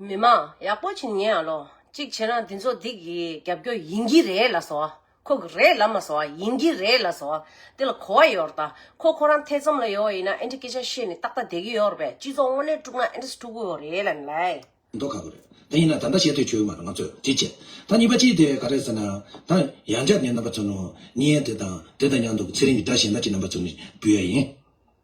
མི་མ་ཡག་པོ་བྱིན་ངས་ལོ་གཅིག་བྱས་ན་འདི་ཚོ་སྡིག་གི་རྒྱབ་སྐྱོར་ཡིན་གྱི་རེད་ལ་སོ་ཁོ་གི་རེད་ལ་མ་སོ་ཡིན་གྱི་རེད་ལ་སོ་དེ་ལ་གོ་བ་ཡོར་ད་ཁོ་ཁོ་རང་ཐེ་ཚོམ་ལ་ཡོ་ཡིན་ན་ཨེ་འདྲ་སྐད་ཆ་བཤད་ནི་ཏག་ཏག་བསྡད་གི་ཡོར་བས་སྤྱི་ཚོགས་དངོས་གནས་དཀྲུག་ན་ཨེ་འདྲ་སྤྲུག་གི་ཡོ་རེད་ལ་ནི་ལའི། མདོག་ཁ་པོ་རེད་ད་ཡིན་ན་ད་འདྲ་བཤད་དུས་ཆོས་མ་རེད་ང་ཚོས་དྲིས་བྱས་ད་གཉིས་པ་སྤྱི་དེ་ག་རེད་ཟེར་ན་ད་ཡང་ཇག་ནི་རྣམ་པ་ཚོ་ནོ་ནིའི་དེ་དང་དེ་དང་ཡང་འདུག་ཚེ་རིང་གི་སྒྲ་གཞན་ད་ཅི་རྣམ་པ་ཚོ་ནི་འབུལ་ཡ་ཡིན།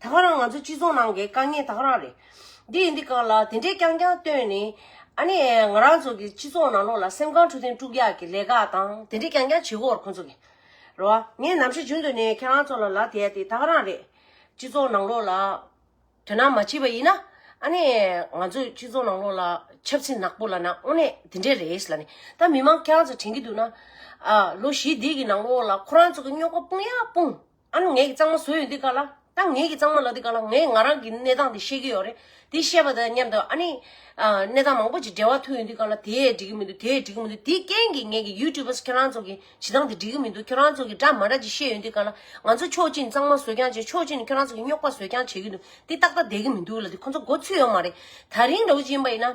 ད་ག་རང་ང་ཚོ་སྤྱི་ཚོགས་ནང་གི་དཀའ་ངལ་ད་ག་རང་རེད། འདི་ཡིན་འདི་གང་ལ་དེ་འདྲས་རྐྱང་རྐྱང་བཏོན་ནས། ཨ་ནི་ང་རང་ཚོ་གི་སྤྱི་ཚོགས་ནང་ལོགས་ལ་སེམས་ཁམས་འཕྲོད་བསྟེན་དཀྲུག་རྒྱག་གི་ལས་ཀ་དང་དེ་འདྲས་རྐྱང་རྐྱང་བྱེད་དགོས་བར་ཁོང་ཚོ་གི། རེད་བ། ངས་ནམ་ཞིག་རྒྱུན་དུ་ནས་ཁྱེད་རང་ཚོ་ལ་ལད་དེད་དེ་ད་ག་རང་རེད། སྤྱི་ཚོགས་ནང་ལོགས་ལ། དོན་དག་མ་བྱས་པ་ཡིན་ན། ཨ་ནི་ང་ཚོས་སྤྱི་ཚོགས་ནང་ལོགས་ལ་ཆབ་སྲིད་ནག་པོ་ལ་ནང་དངོས་གནས་དེ་འདྲས་རེད་ལ་ནི། ད་མི་མང་ཁྱེད་རང་ཚོ་དྲན་གྱི་འདུག་ན། ཨ། ལོ་བཞི་འདས་ཀྱི་ནང་ལོགས་ལ་ཁོ་རང་ཚོ་གི་རྙོག་པ་སྤུངས་ཡ་སྤུངས། ཨ་ནི་ངེད་ཀྱི་གཙང་མ་བཟོས་ཡོད་འདི་ག་ལ། ད་ངེད་ཀྱི་གཙང་མ་ལགས་འདི་ག་ལ་ངས་ང་རང་གི་གནས་སྟངས་དེ་ཤེས་ཀྱི་ཡོད་རེད། དེ་བཤད་པ་དང་མཉམ་དུ་ཨ་ནི། གནས་སྟངས་མང་པོ་ཅིག་འབྲེལ་བ་ཐུག་ཡོད་འདི་ག་ལ་དེས་འགྲིག་གི་མི་འདུག་དེས་འགྲིག་གི་མི་འདུག་དེའི་རྐྱེན་གྱིས་ངེད་ཀྱི YouTubers ཁྱེད་རང་ཚོ་གི་བྱེད་སྟངས་དེ་འགྲིག་གི་མི་འདུག་ཁྱེད་རང་ཚོ་གི་འདྲ་མ་འདྲ་ཅིག་བཤད་ཡོད་འདི་ག་ལ། ང་ཚོ་ཕྱོགས་གཅིག་ནི་གཙང་མ་བཟོས་རྐྱང་བྱས་ཕྱོགས་གཅིག་ནི་ཁྱེད་རང་ཚོ་གི་རྙོག་པ་བཟོས་རྐྱང་བྱེད་ཀྱི་འདུག་འདི་ཏག་ཏག་བསྡད་ཀྱི་མི་འདུག་ལ་འདི་ཁོ་ཚོ་མགོ་ཚུད་ཡོད་མ་རེད། ད་རིང་ར་བུ་ཅན་པ་ཡིན་ན།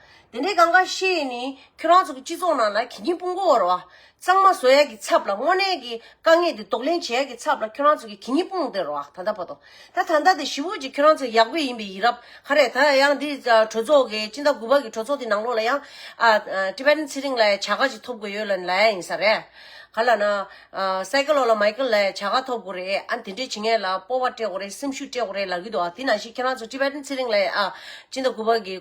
དེ་འདྲའི་གང་གཱ་ཤེས་ནི་ཁྱོད་རང་ཚོ་གི་སྤྱི་ཚོགས་ནང་ལ་གྱི་གྱི་སྤུན་གོ་བོར་བ་གཙང་མ་བཟོ་ཡག་གི་ཚབ་ལ་དངོས་གནས་ཀྱི་དཀའ་ངལ་དེ་རྡོག་ལེན་བྱེད་ཡག་གི་ཚབ་ལ་ཁྱོད་རང་ཚོ་གི་གྱི་གྱི་སྤུན་དེ་རོ་ཨ་ད་ད་པོ་ཏོ་ད་ད་ད་དེ་བཞི་བོ་གཅིག་ཁྱོད་རང་ཚོ་ཡག་པོ་ཡིན་པའི་ཡིན་རབས་ཧ་རེད་ད་ཡང་འདི་གྲོས་ཚོགས་ཀྱི་སྤྱི་ཟླ་དགུ་པ་གི་གྲོས་ཚོགས་དེ་ནང་ལོགས་ལ་ཡང་ཨ Tibetan ཚེ་རིང་ལའི་བྱ་དགའ་ཅིག་ཐོབ་དགོས་ཡོད་ལ་ལ་ཡ་ཡིན་ས་རེད་ག་ལ་ན Cycle ལོགས་ལ Michael ལའི་བྱ་དགའ་ཐོབ་དགོས་རེད་ཨ་དེ་འདྲས་བྱེད་ངེས་ལ་སྤོབས་པ་སྤྲད་དགོས་རེད་སེམས་ཤུགས་སྤྲད་དགོས་རེད་ལག་གི་འདུག་ཨ་དེ་ནང་བཞིན་ཁྱོད་རང་ཚོ Tibetan ཚེ་རིང་ལའི་ཨ་སྤྱི་ཟླ་དགུ་པ་གི།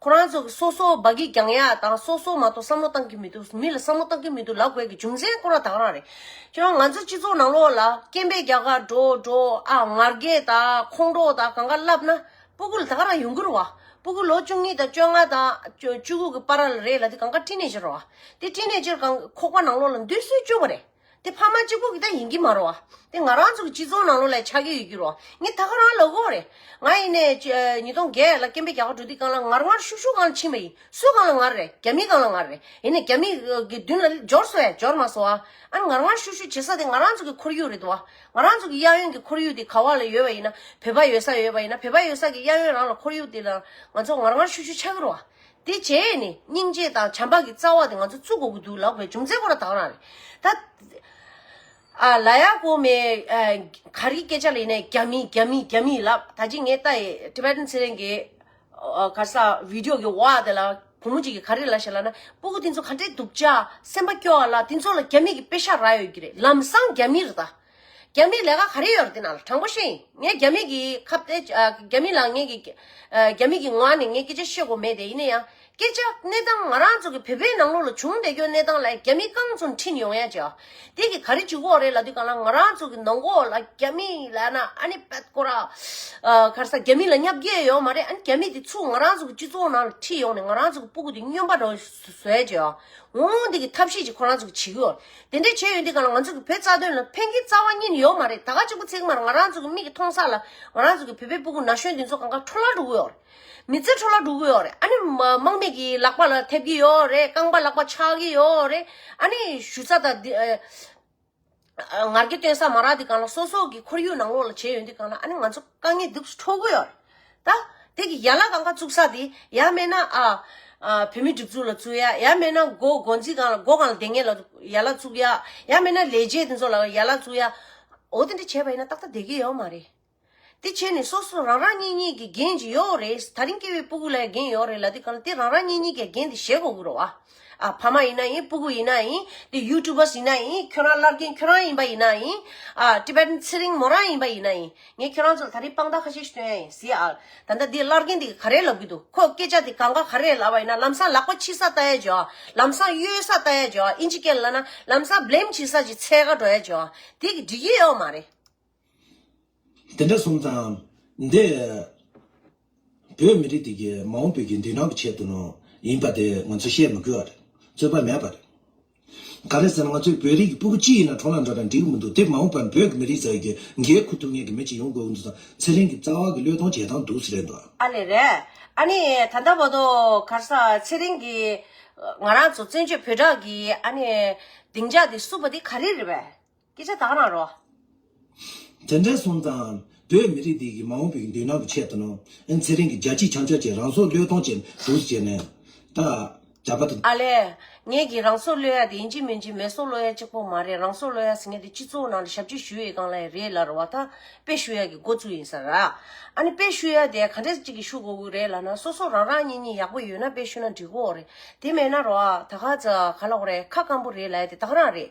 ཁོ་རང་ཚོ་སོ་སོ་བ་གིས་ཀྱང་ཡག་དང་སོ་སོ་མ་གཏོགས་བསམ་བློ་བཏང་གི་མི་འདུག་མི་ལ་བསམ་བློ་བཏང་གི་མི་འདུག་ལབ་དགོས་ཀྱི་རྒྱུ་མཚན་ཁོ་རང་དག་རང་རེད། ཁྱོད་རང་ང་ཚོའི་སྤྱི་ཚོགས་ནང་ལོགས་ལ་སྐྱེན་པའི་རྒྱ་གར་འགྲོ་འགྲོ་ཨ་ངར་རྒས་དང་ཁོང་ཁྲོ་དང་གང་ག་ལབ་ན་སྤུ་གུ་ལ་དག་རང་ཡུང་གུར་བ་སྤུ་གུ་ལོ་བཅུ་གཉིས་དང་བཅོ་ལྔ་དང་བཅུ་དགུ་གི་པ་ར་ལ་རེད་ལ་དེ་གང་ག་ཏྲི་ནེ་ཇེར་བ་དེ་ཏྲི་ནེ་ཇེར་གང་ཁོག་པ་ནང་ལོགས་ལ་འདུས་གསོལ་བཅོལ་བ་རེད། དེ་ཕ་མ་གཅིག་པོ་གི་ད་ཡིན་གྱི་མ་རོ། དེ་ང་རང་ཚོ་གི་སྤྱི་ཚོགས་ནང་ལོགས་ལ་ཆགས་ཀྱི་ཡོད་རྒྱུ་རོ། ངས་ད་ག་རང་ལོག་གོ་རེད། ང་ཡིན་ནས་ཉིས་སྟོང་བརྒྱད་ལ་སྐྱེན་པའི་རྒྱ་གར་འགྲོ་དུས་གང་ལ་ངར་ངར་ཤུག་ཤུག་གང་ལ་ཕྱིན་པ་ཡིན། སུ་གང་ལ་ངར་རེད་རྒྱ་མི་གང་ལ་ངར་རེད། ཡིན་ནས་རྒྱ་མི་གི་མདུན་ལ་འཇོར་སོ་ཡ་འཇོར་མ་སོ་ཨ། ཨ་ངར་ངར་ཤུག་ཤུག་བྱེད་ས་དེ་ང་རང་ཚོ་གི་ཁོར་ཡུག་རེད་དོ་ཨ། ང་རང་ཚོ་གི་གཡག་གཡོན་གི་ཁོར་ཡུག་དེ་ག་བ་ལ་ཡོད་པ་ཡིན་ན་བོད་པ་ཡོད་ས་ཡོད་པ་ཡིན་ན་བོད་པ་ཡོད་ས་གི་གཡག་གཡོན་རང་ལ་ཁོར་ཡུག་དེ་ལ་ང་ཚོ་ངར་ངར་ཤུག་ཤུག་ཆགས་ཀྱི་རོ་ཨ། དེ་རྗེས་ནི་སྙིང་རྗེ་དང་བྱམས་པ་གི་རྩ་བ་དེ་ང་ཚོ་བཙུགས་དགོས་ཀྱི་འདུག་ལགས་པས་རྒྱུ་མཚན་ཁོ་རང་དག་རང་རེད། ད་ལ་ཡ་ཀོ་མེ་གར་གྱི་སྐད་ཆ་ལས་ནས་རྒྱ་མི་རྒྱ་མི་རྒྱ་མི་ལབ་ད་ཅི་ངས་ལྟ་ཡི Tibetan ཚེ་རིང་གི་གར་ས Video གི་བ་དེ་ལ་བུ་མོ་གཅིག་གི་ག་རེ་ལ་ཞེས་ལབ་ན་སྤུ་གུ་དེ་ཚོ་ག་འདྲའི་སྡུག་ཅག་སེམས་པ་སྐྱོ་བ་ལ་དེ་ཚོ་ལ་རྒྱ་མི་གི་དཔེ་ཤག་རག་ཡོད་ཀྱི་རེད་ལམ་སང་རྒྱ་མིར་ལྟ། རྒྱ་མིའི་ལས་ཀ་ག་རེ་ཡོད་རེད་འདི་ན་ལ་དྲང་པོ་བཤད་ཡིན་ངས་རྒྱ་མི་གི་ཁ་བརྡ་རྒྱ་མི་ལ་ངས་ཀྱི་རྒྱ་མི་གི་ངོ་ནས་ངས་སྐད་ཆ་བཤད་དགོས་མེད་དེ་ཡིན་ན་ཡང་སྐད་ཆ་གནས་སྟངས་ང་རང་ཚོ་གི་བོད་པའི་ནང་ལོགས་ལ་བྱུང་བསྡད་སྐྱོན་གནས་སྟངས་ལ་རྒྱ་མི་གང་ཚོ་འཁྲིད་ཡོང་ཡ་ཅི་དེ་གི་ག་རེ་ཅི་གོ་རེད་ལ་དུས་གང་ལ་ང་རང་ཚོ་གི་ནང་གོ་ལ་རྒྱ་མི་ལ་ན་ཨ་ནི་བད་ཀོ་ར་གར་ས་རྒྱ་མི་ལ་བསྙབ་རྒྱ་ཡོད་མ་རེད་ཨ་ནི་རྒྱ་མི་དེ་ཚོ་ང་རང་ཚོ་གི་སྤྱི་ཚོགས་ནང་ལ་འཁྲིད་ཡོང་ནས་ང་རང་ཚོ་གི་སྤུ་གུ་དེ་སྨྱོན་པ་རོ་བཟོས་ཅི་འོང་འདི་གི་ཐབས་ཤེས་ཅི་ཁོ་རང་ཚོ་གི་བྱེད་ཀྱི་ཡོད་རེད། དེ་འདྲའི་བྱེད་ཡུལ་འདི་ག་ལ་ང་ཚོ་གི་བུ་རྩ་དོན་ལ་ཕན་གྱི་རྩ་བ་གཉིས་ནི་ཡོག་མ་རེད་ད་ག་གཅིག་པུ་ཚེག་མར་ང་རང་ཚོ་གི་མིག་གི་མཐོང་སར་ལ་ང་རང་ཚོ་གི་བུད་པའི་སྤུ་གུ་ན་གཞོན་འདི་ཚོ་གང་ག་འཕྲོ་ལ་འགྲོ་གི་ཡོག་རེད་མི་ཚེ་འཕྲོ་ལ་འགྲོ་གི་ཡོག་རེད་ཨ་ནི་དམག་མི་གི་ལག་པ་ལ་ཐེབས་གི་ཡོག་རེད་རྐང་པ་ལག་པ་ཆག་གི་ཡོག་རེད་ཨ་ནི་ཞུ་རྩ་དང་འདི་ངར་གྱི་སྟོན་ས་མ་རག་འདི་གང་ལ་སོ་སོ་གི་ཁོར་ཡུག་ནང་ལོགས་ལ་བྱེད་ཡུལ་འདི་གང་ལ་ཨ་ནི་ང་ཚོ་དཀའ་ངལ་སྡུག་སུ་འཕྲོ་གི་ཡོག་རེད། ད། དེ་གི་ཡ་ལ་གང་ག་བཙུག་ས་དེ། ཡ་མེད་ན། བུད་མེད་སྒྲིག་འཛུགས་ལ་བཙུག་ཡ། ཡ་མེད་ན། སྒོ་སྒོ་འཛིན་གང་ལ་སྒོ་གང་ལ་སྡེ་ངེས་ལ། ཡ་ལ་བཙུག་ཡ། ཡ་མེད་ན་ལས་བྱེད་དེ་ཚོ་ལ་ཡ་ལ་བཙུག་ཡ། འོ་དེ་འདྲ་བྱས་པ་ཡིན་ན་ཏག་ཏག་བསྡད་ཀྱི་ཡོད་མ་རེད། དེ་བྱས་ནས་སོ་སོ་རང་རང་གཉིས་གཉིས་ཀྱི་འགན་ཇི་ཡོད་རེད། ད་རིང་སྐྱེ་བའི་སྤུ་གུ་ལ་ཡང་འགན་ཡོད་རེད་ལ་དེ་གང་ལ་དེ་རང་རང་གཉིས་གཉིས་ཀྱི་འགན་དེ་བཞེས་དགོས་ཀྱི་རེད་བ། ཕ་མ་ཡིན་ན་ཡིན་སྤུ་གུ་ཡིན་ན་ཡིན་དེ་ཡུ་ཏུ་བཱི་ཡིན་ན་ཡིན་ཁྱོད་རང་ཀླར་མཁན་ཁྱོད་རང་ཡིན་པ་ཡིན་ན་ཡིན Tibetan ཚེ་རིང་མོ་རང་ཡིན་པ་ཡིན་ན་ཡིན་ངས་ཁྱོད་རང་ཚོ་ལ་ད་རིང་དཔང་རྟགས་ཁ་ཤས་ཤིག་སྟོན་ཡ་ཡིན་བཟི་ཨ་ད་ལྟ་འདི་ཀླར་མཁན་འདིས་ག་རེ་ལབ་གི་འདུག་ཁོ་སྐད་ཆ་དེ་གང་ག་ག་རེ་ལབ་པ་ཡིན་ན་ལམ་སང་ལག་པ་འཕྱི་ས་ལྟ་ཡ་བྱོས་ཨ་ལམ་སང་གཡོལ་ས་ལྟ་ཡ་བྱོས་ཨ་ཨིན་ཇི་སྐད་ལབ་ན་ལམ་སང Blame བྱེད་ས་ཅིག་ཚད་ག་འགྲོ་ཡ་བྱོས་ཨ་དེ་གི་འགྲིག་གི་ཡོད་མ་རེད། དེ་འདྲ་སོང་ཙང། འདི། བོད་མི་རིགས་དེ་གའི་མ་འོངས་བོད་ཀྱི་མདུན་ནང་གི་ཆེད་དུ། ཡིན་པ་དེ་ང་ཚོས་བཤད་མི་དགོས་བ་རེད། རྩོད་པ་མེད་པ་རེད། ག་རེད་ཟེར་ན་ང་ཚོའི་བོད་རིགས་ཀྱི་སྤུ་གུ་གཅིག་ཡིན་ན་གྲོང་ལ་འགྲོ་དང་འགྲིག་གི་མི་འདུག་དེ་མ་འོངས་པར་བོད་ཀྱི་མི་རིགས་ཙག་གི་འགའི་ཁུ་ཐུག་ངེད་ཀྱི་མི་གཅིག་ཡོང་དགོས་ཀྱི་འདུག་ཙང་ཚེ་རིང་གི་རྩ་བ་གི་བློས་གཏོང་བྱེད་སྟངས་སྡུག་ས་རེད་འདུག་ཨ། ཨ་ལེ་རེད། ཨ་ནི་ད་ལྟ་བར་དུ་གར་ས་ཚེ་རིང་གིས། ང་རང་ཚོ་བཙན་བྱོལ་བོད་གྲགས་ཀྱི་ཨ་ནི། སྡིངས་ཆ་དེ་བསུབ་པ་དེ་ག་རེ་རེད་བས། སྐད་ཆ་དག་རང་རོགས། དེ་འདྲའི་སོང་ཙང། བོད་མི་རིགས་འདི་ཡི་མ་འོངས་པའི་མདུན་ན་གི་ཆེད་དུ་ནོ། ཨིན་ཚེ་རིང་གི་རྒྱལ་སྤྱིའི་བྱང་ཕྱོགས་ཀྱི་རང་སྲོག་བློས་གཏོང་བྱེད་འདུག་ཟེར་ནས། ད། རྒྱ་བལ་དུ། ཨ་ལས། ངེད་ཀྱིས་རང་སྲོག་བློས་ཡ་དེ་ཨིན་ཇི་མིན་ཇི་མེད་སྲོག་བློ་ཡ་གཅིག་པོ་མ་རེད་རང་སྲོག་བློ་ཡ་ཟེར་མཁན་དེ་སྤྱི་ཚོགས་ནང་དུ་ཞབས་ཕྱི་ཞུ་ཡས་ཀང་ལ་ཡ་རེད་ལར་བ་ཐ་དཔེ་ཞུ་ཡ་གི་འགོ་བཙུགས་ཡིན་ས་ར། ཨ་ནི་དཔེ་ཞུ་ཡ་དེ་ག་འདྲས་ཅིག་གི་ཞུ་དགོ་གུ་རེད་ལ་ན་སོ་སོ་རང་རང་གཉིས་གཉིས་ཡག་པོ་ཡོད་ན་དཔེ་ཞུ་ན་འགྲིག་གོ་རེད་དེ་མེད་ན་རོགས་ཨ་ད་ག་ཚ་ག་ལ་ཧོ་རེད་ཁ་སྐམ་པོ་རེད་ལ་ཡ་དེ་དག་རང་རེད།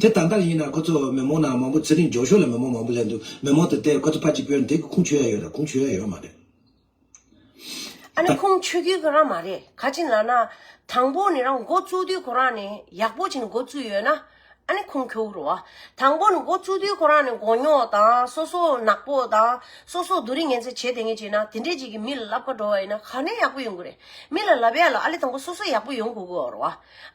དེ་ད་ལྟར་ཡིན་ན་ཁོ་ཚོ་མི་མང་ནང་མང་པོ་ཚེ་རིང་འབྱོར་ཤོར་ལ་མི་མང་མང་པོ་སླེབས་འདུག་མི་མང་དེ་ལྟས་ཁོ་ཚོ་ཕ་གཅིག་པོའི་འདེགས་ཀྱི་ཁུངས་ཆོད་ཡ་ཡོད་དང་ཁུངས་ཆོད་ཡ་ཡོད་མ་རེད། ཨ་ནི་ཁུངས་ཆོད་རྒྱུའི་ཁོ་རང་མ་རེད་ག་ཅིག་ལ་ན་དང་པོ་ནི་རང་འགོ་བཙུགས་དུས་ཁོ་རང་ནི་ཡག་པོ་བྱས་ནས་འགོ་བཙུགས་ཡོད་ན་ཨ་ནི་ཁུངས་ཁྱོད་རོ། དང་པོ་ནི་འགོ་བཙུགས་དུས་ཁོ་རང་ནི་མགོ་རྙོག་དང་སོ་སོ་ནག་པོ་དང་སོ་སོ་སྡུག་རིས་ངན་ཚད་བྱས་དེ་ངས་བྱས་ན་དེ་འདྲས་ཅིག་གིས་མི་ལ་ལབ་ཁ་འགྲོ་བ་ཡིན་ན་ག་ནས་ཡག་པོ་ཡོང་གི་རེད་མི་ལ་ལབ་ཡ་ལ་ཨ་ལི་དང་པོ་སོ་སོ་ཡག་པོ་ཡོང་དགོས་གི་རོ།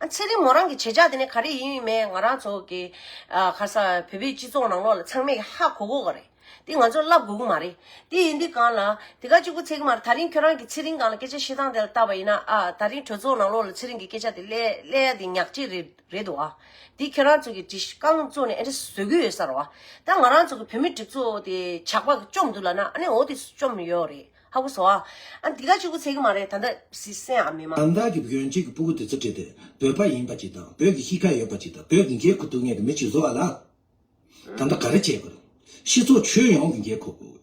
ཚེ་རིང་མོ་རང་གི་བྱེད་བྱ་དེ་ནི་ག་རེ་ཡིན་མེད་ང་རང་ཚོ་གི་ག་ས་བོད་པའི་སྤྱི་ཚོགས་ནང་ལོག་ལ་ཚང་མས་ཀྱི་ཧ་གོ་གོ་ག་རེ་དེ་ང་ཚོར་ལབ་དགོས་ཀྱི་མ་རེད་དེ་ཡིན་དུས་གང་ལ་དེ་ག་གཅིག་པུ་ཚེག་མར་ད་རིང་ཁྱོད་རང་གི་ཚེ་རིང་གང་ལ་སྐད་ཆ་བཤད་སྟངས་དེ་ལ་བལྟ་བ་ཡིན་ན་ཨ་ད་རིང་གྲོས་ཚོགས་ནང་ལོག་ལ་ཚེ་རིང་གི་སྐད་ཆ་དེ་གླེ་གླེ་ཡ་དེ་ཉག་གཅིག་རེད་རེད་འདུག་ཨ་དེ་ཁྱོད་རང་ཚོ་གི་དྲི་རྐང་བཙོ་ནས་ཨེ་འདྲ་བཟོ་གི་ཡོད་ས་རུ་ཨ་ད་ང་རང་ཚོ་གི་བོད་མི་གྲིབ་ཚོ་དེ་ཇག་པ་གི་བཅོམ་འདུག་ལ་ན་ཨ་ནི་འོ་དེ་བཅོམ་ཡོད་རེད་ཧ་གོ་སོ། ཨ་འདི་ག་ཅིག་པུ་ཚད་ཀྱི་མ་རེད་ད་ལྟ་བཟི་སྲན་ཨ་མི་མ། དང་བདག་གི་བོན་གཅིག་གི་པུ་གུ་དེ་ཚོ་བྲིས་ཏེ་བོད་པ་ཡིན་པ་གཅིག་དང་བོད་ཀྱི་གཤིས་ཀ་ཡོད་པ་གཅིག་དང་བོད་ཀྱི་འགན་ཁུར་སྡུག་ཉེས་ཀྱི་མི་གཅིག་བཟོ་བ་ལ། ད་ལྟ་ག་རེ་བྱེད་དགོས། སྤྱི་ཚོགས་ཁྱོན་ཡོངས་ཀྱི་འགན་ཁུར་དགོས།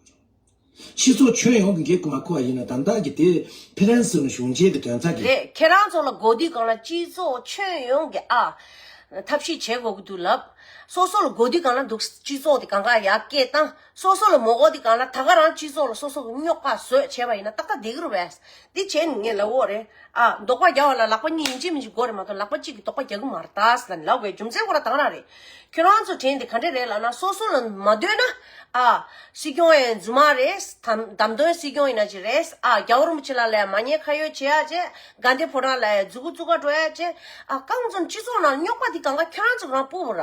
སྤྱི་ཚོགས་ཁྱོན་ཡོངས་ཀྱི་འགན་ཁུར་མ་ཁུར་བ་ཡིན་ན་དང་བདག་གི་དེ་ཕི་རན་སི་ནི་གཞུང་ཆེན་གྱི་དོན་ཚ་གི། རེད་ཁྱེད་རང་ཚོ་ལ་གོ་དུས་གང་ལ་སྤྱི་ཚོགས་ཁྱོན་ཡོངས་ཀྱི་ཨ། ཐབས་ཤེས་བྱེད་དགོས་ཀྱི་འདུག་ལབ། སོ་སོ་ལ་གོ་དུས་གང་ལ་འདུག་སྤྱི་ཚོགས་དེ་གང་ག་ཡག་སྐད་བཏང། སོ་སོ་ལ་མོ་འོ་འདི་གང་ལ་ད་ག་རང་སྤྱི་ཚོགས་ལ་སོ་སོ་རྙོག་པ་བཟོས་བྱས་པ་ཡིན་ན་ཏག་ཏག་འདི་གུར་བས་འདི་བྱས་ནི་ངས་ལ་འོ་རེད་ཨ་འདོག་པ་རྒྱག་བ་ལ་ལག་པ་གཉིས་ཡིན་གཅིག་མིན་གཅིག་འགོ་རེད་མ་གཏོགས་ལག་པ་གཅིག་གིས་འདོག་པ་རྒྱག་གི་མ་རེད་ད་ཟེར་ན་ནི་ལག་བའི་རྒྱུ་མཚན་ཁོ་རང་དང་རང་རེད་ཁྱོད་རང་ཚོ་དྲན་དེ་ག་འདྲ་རེད་ལགས་ན་སོ་སོ་ལ་མ་འདོད་ན་ཨ་སྲིད་སྐྱོང་ཡང་རྫུན་མ་རེད་དམ་དམ་དོན་སྲིད་སྐྱོང་ཡིན་ན་ཅི་རེད་ཨ་རྒྱ་བོར་མོ་ཆེ་ལ་ལ་ཡང་མ་ཉེས་ཁ་ཡོད་བྱེད་ཡ་བྱེད་དགའ་འདི་ཕོ་བྲང་ལ་ཡང་རྫུ་གུ་རྩུ་ག་འགྲོ་ཡ་བྱེད་ཨ་གང་བརྩམས་སྤྱི་ཚོགས་ནང་རྙོག་པ་འདི་གང་ག་ཁྱོད་རང་ཚོ་རང་སྤུ་བོ་ར།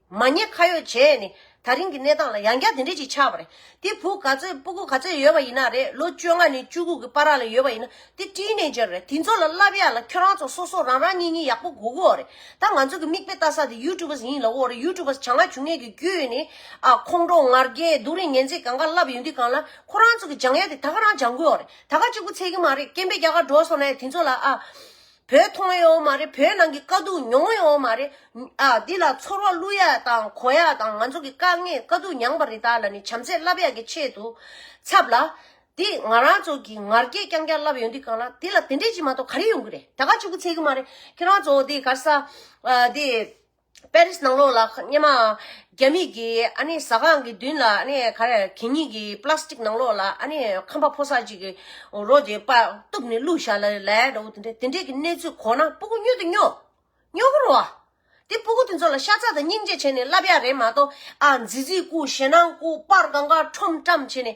མ་ཉེས་ཁ་ཡོད་བྱས་ནས་ད་རིང་གི་གནས་སྟངས་ལ་ཡང་བསྐྱར་དེ་འདྲས་ཅིག་ཆགས་པ་རེད་དེ་བུ་ག་ཚོད་སྤུ་གུ་ག་ཚོད་ཡོད་པ་ཡིན་ན་རེད་ལོ་བཅོ་ལྔ་ནས་བཅུ་དགུ་གི་པར་ར་ལ་ཡོད་པ་ཡིན་ན་དེ་བཀྲིས་ནས་འཇལ་རེད་དེ་ཚོ་ལ་བསླབ་ཡག་ལ་ཁྱོད་རང་ཚོ་སོ་སོ་རང་རང་གཉིས་གཉིས་ཡག་པོ་གོ་གི་འོ་རེད་ད་ང་ཚོ་གི་མིག་དཔེ་ལྟ་ས་དེ་ཡུ་ཀྲུ་བ་ཡིན་ལ་འོ་རེད་ཡུ་ཀྲུ་བ་བྱ་ང་བྱུང་ངེས་ཀྱི་རྒྱུས་ནི་ཨ་ཁོང་ཁྲོ་ངར་རྒྱས་སྡུག་རིང་ངན་ཚིག་གང་ག་ལབ་ཡོད་འདི་གང་ལ་ཁོ་རང་ཚོ་གི་སྦྱང་ཡག་དེ་ད་ག་རང་སྦྱང་གི་འོ་རེད་ད་ག་གཅིག་པུ་ཚད་ཀྱི་མ་རེད་སྐྱེན་པའི་རྒྱ་གར་འགྲོ་སོང་ནས་དེ་ཚོ་ལ་ཨ། བོད་མཐོང་ཡོད་མ་རེད་བོད་ནང་གི་དཀའ་སྡུག་མྱོང་ཡོད་མ་རེད་ཨ་འདི་ལ་ཚོར་བ་བླུ་ཡག་དང་གོ་ཡག་དང་ང་ཚོ་གི་དཀའ་ངལ་དཀའ་སྡུག་མྱངས་པ་རི་དྭགས་ལ་ནི་བྱམས་བརྩེ་བསླབ་ཡག་གི་ཆེད་དུ་ཚབ་ལ། འདི་ང་རང་ཚོ་གི་ངར་སྐད་རྐྱང་རྐྱང་བསླབ་ཡོད་འདི་གང་ལགས་འདི་ལ་དེ་འདྲས་ཅིག་མ་གཏོགས་ག་རེ་ཡོང་གི་རེད་ད་ག་ཅིག་པུ་ཚད་གི་མ་རེད་ཁྱེད་རང་ཚོ་འདི་གར་ས་འདི། པེ་རིས་ནང་ལོགས་ལ་སྙེ་མ། རྒྱ་མིག་གི་ཨ་ནི་ཟ་ཁང་གི་མདུན་ལ་ཨ་ནི་ག་རེ་གད་སྙིགས་ཀྱི་པ་ལ་སི་ཏིག་ནང་ལོགས་ལ་ཨ་ནི་ཁམ་པ་ཕོ་སར་ཅིག་གི་རོ་དེ་པ་གཏུབ་ནས་བླུགས་བཞག་ལ་ལས་འདྲ་བོ་དེ་འདྲ་དེ་འདྲས་ཀྱི་གནས་ཚུལ་གོ་ན་སྤུ་གུ་སྨྱོས་དང་སྨྱོ། སྨྱོ་གུ་རུ་ཨ། དེ་སྤུ་གུ་དེ་ཚོ་ལ་ཤ་ཚ་དང་སྙིང་རྗེ་བྱས་ནས་བསླབ་ཡག་རེད་མ་གཏོགས་ཨ་ཛི་ཛི་སྐུ་ཞེ་སྣང་སྐུ་དཔར་གང་ག་ཁྲོམ་བཀྲམ་བྱས་ནས།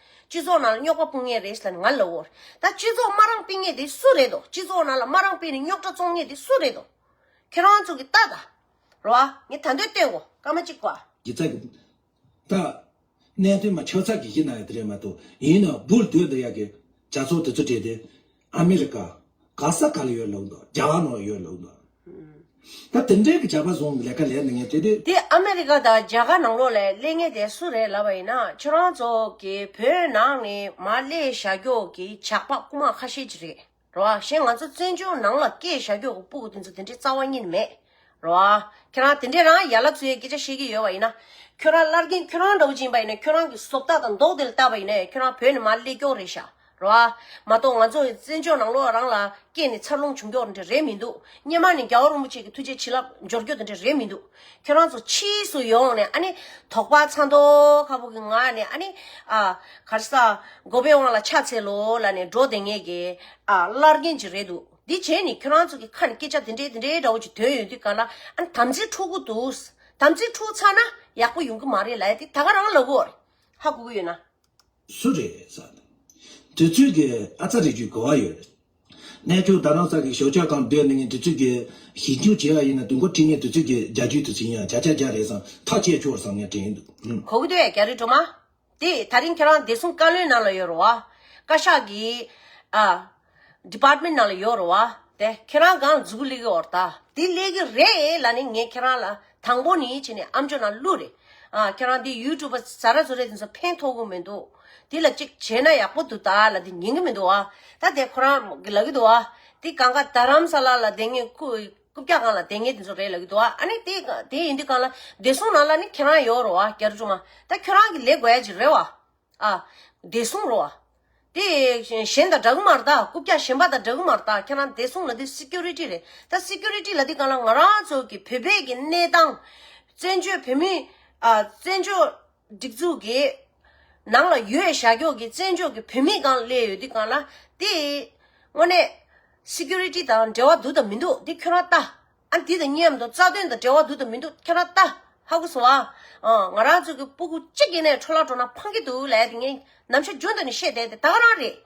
སྤྱི་ཚོགས་ནང་ལ་རྙོག་པ་སྤུངས་ངེས་རེད་ཟེར་ན་ང་ལོ་བོར། ད་སྤྱི་ཚོགས་དམའ་རང་སྤེལ་ངེས་དེ་སུ་རེད་དོ་སྤྱི་ཚོགས་ནང་ལ་དམའ་རང་སྤེལ་ནས་རྙོག་དྲ་བཙོང་ངེས་དེ་སུ་རེད་དོ། ཁྱེད་རང་ཚོ་གིས་བལྟ་ད། རོ་ཨ། ངས་ད་འདོད་བསྟོན་གོ་སྐར་མ་གཅིག་པ། གི་ཚ་གི། ད། གནད་དོན་མ་ཆགས་ཚར་གི་གཞི་ན་ཡོད་དེ་རེད་མ་གཏོགས། ཡིན་ནའོ་འབུར་དོད་འདི་ཡག་གི། ཇག་ཚོགས་དེ་ཚོ་བྲེལ་ཏེ། ཨ་མི་རི་ཀ། ག་ས་ག་ལ་ཡོད་ལུགས་འདུག་རྒྱ་བ་ནོར་ཡོད་ལུགས་འདུག། ད་དེ་འདྲའི་གི་བྱ་བ་བཟུང་གི་ལས་ཀ་ལས་འདི་ངས་དེ་དུས། དེ་ཨ་མི་རི་ཀ་དང་རྒྱ་གར་ནང་ལོགས་ལས་གླེང་ངེས་དེ་སུ་རེད་ལབ་པ་ཡིན་ན་ཁྱོད་རང་ཚོ་གི་བོད་ནང་ནས་མ་གླེ་བྱ་རྒྱོག་གི་ཇག་པ་རྐུ་མ་ཁ་ཤས་ཀྱི་རེད་རོ་གཞན་ང་ཚོ་བཙན་བྱོལ་ནང་ལ་སྐད་བྱ་རྒྱོག་གི་སྤུ་གུ་དེ་ཚོ་དེ་འདྲའི་རྩ་བ་ཉིད་མེད། རེད་བ། ཁྱེད་རང་དེ་འདྲས་རང་ཡར་ལ་ཚོའི་སྐད་ཆ་བཤད་ཀྱི་ཡོད་བ་ཡིན་ན། ཁྱོད་རང་ལར་རྒན་ཁྱོད་རང་འདྲ་བོ་བྱིན་པ་ཡིན་ན་ཁྱོད་རང་གི་སོབ་རྟགས་དང་མདོག་དེ་ལ་བལྟ་བ་ཡིན་ན་ཁྱོད་རང་བོད་ནས་མ་སླེབས་སྐྱོང་རེད་ཤག་རེད་བ། མ་གཏོགས་ང་ཚོ་བཙན་བྱོལ་ནང་ལོག་རང་ལ་སྐྱེས་ནས་འཚར་ལོངས་བྱུང་མགྱོགས་འདྲ་རེད་མི་འདུག་སྙེ་མ་ནས་རྒྱ་བོ་རིན་པོ་ཆེ་གི་ཐུགས་རྗེ་བྱིན་རླབས་འབྱོར་རྒྱུ་དེ་འདྲ་རེད་མི་འདུག་ཁྱོད་རང་ཚོ་ཕྱིས་སུ་ཡོང་ནས་ཨ་ནི་དོགས་པ་ཚ་མདོག་ཁ་བོ་གི་ངང་ནས་ཨ་ནི། ཨ། གར་ས། མགོ་པའི་དབང་ལ་ཕྱག་འཚལ་ལོ་ལ་ནས་འགྲོ་དེ་ངས་ཀྱི། ཨ། ལར་རྒན་གྱི་རེད་འདུག། འདི་བྱས་ནས་ཁྱོད་རང་ཚོ་གི་ཁ་ནས་སྐད་ཆ་དེ་འདྲའི་དེ་འདྲའི་འདྲ་བོ་ཅིག་དོན་ཡོད་དུས་ག་ལ་ཨ་དམ་ཚིག་འཁྲུག་གི་འདུག་དམ་ཚིག་འཁྲུག་ཚར་ན་ཡག་པོ་ཡོང་གི་མ་རེད་ལ་ཡ་དེ་ད་ག་རང་ལ་གོ་རེ་ཧ་གོ་གི་ཡོད་ན། སུ་རེད་ས་དང། དུས་ཚོད་ཀྱི་ཨ་ཙ་རེད་རྒྱུའི་གོ་བ་ཡོད་རེད། གནས་ཐུག་ད་རང་ས་གི་ཞོགས་ཆགས་གང་སྡོད་མི་ཉན་དུས་ཚོད་ཀྱི་ཞིབ་འཇུག་བྱས་བ་ཡིན་ན་དུས་འགོ་ཁྲིད་ཉན་དུས་ཚོད་ཀྱི་རྒྱ་རྒྱུའི་དུས་ཚོད་ཡིན་ཡང་བྱ་བྱ་རྒྱ་རེད་བསམ་ཐག་བཅད་ཆོག་བསམ་ཡང་དྲན་གི་འདུག། གོ་གི་འདུག་ཡ་རྒྱ་རི་སྒྲོལ་མ། དེ་ད་རིང་ཁྱེད་རང་བདེ་སྲུང་བཀའ་བློན་ནང་ལ་ཡོད་རུ་བ། བཀའ་ཤག་གི། Department ནང་ལ་ཡོད་རུ་བ། དེ་ཁྱེད་རང་གང་ལ་འཛུལ་ལེ་གི་འོར་ད། དེ་ལེ་གི་རེད་ལ་ནི་ངས་ཁྱེད་རང་ལ་དང་པོ་ནི་བྱས་ནས་ཨམ་ཅོ་ནང་བླུག་རེད། ཁྱེད་རང་དེ YouTuber ཟ་ར་ཟོ་རེད་དེ་ཚོ་ཕན་ཐོག་གི་མི་འདུག། དེ་ལ་ཅིག་བྱས་ན་ཡག་པོ་འདུག་ད་ལ་དེ་ཉན་གི་མི་འདུག་བ། ད་དེ་ཁོ་རང་གི་ལབ་གི་འདུག་བ། དེ་གང་ག་རྡ་རམ་ས་ལ་ལ་དེ་ངས་ཁུ། རྐུབ་བཀྱག་གང་ལ་དེ་ངས་དེ་ཚོ་རེད་ལབ་ཀྱི་འདུག་ཨ་ཨ་ནི་དེ་དེ་ཡིན་དུས་གང་ལ་བདེ་སྲུང་ནང་ལ་ནི་ཁྱེད་རང་ཡོད་རོགས་ཨ་སྐྱར་ཅུང་མ་ད་ཁྱོད་རང་གི་ལས་དགོས་ཡ་ཅིག་རེད་བ་ཨ། བདེ་སྲུང་རོགས་ཨ། དེ་གཞན་དང་འདྲ་གི་མ་རེད་ད་རྐུབ་བཀྱག་གཞན་པ་དང་འདྲ་གི་མ་རེད་ད་ཁྱེད་རང་བདེ་སྲུང་ལ་དེ Security རེད་ད Security ལ་དེ་གང་ལ་ང་རང་ཚོ་གི་བོད་པའི་གི་གནས་སྟངས། བཙན་བྱོལ་བོད་མི། བཙན་བྱོལ། སྒྲིག་འཛུགས་ཀྱི་ནང་ལ་ཡོད་ཤ་ཁྱོག་གི་བཙན་བྱོལ་གྱི་བོད་མི་གང་བསླེས་ཡོད་དེ་གང་ལ་དེ་དངོས་གནས། Security དང་འབྲེལ་བ་འདུག་དང་མི་འདུག་དེ་ཁྱོད་རང་ལྟ། ཨ་འདི་དང་མཉམ་དུ་རྩ་དོན་དང་འབྲེལ་བ་འདུག་དང་མི་འདུག་ཁྱོད་རང་ལྟ། ཧ་གོ་སོང་ཨ། ང་རང་ཚོ་གི་སྤུ་གུ་གཅིག་ཡེ་ནས་འཕྲོ་བརླག་འགྲོ་ན་ཕངས་ཀྱི་འདུག་ལས་དེ་ངས་ནམ་ཞར་རྒྱུན་དུ་ནས་བཤད་བསྡད་དེ་ད་ག་རང་རེད།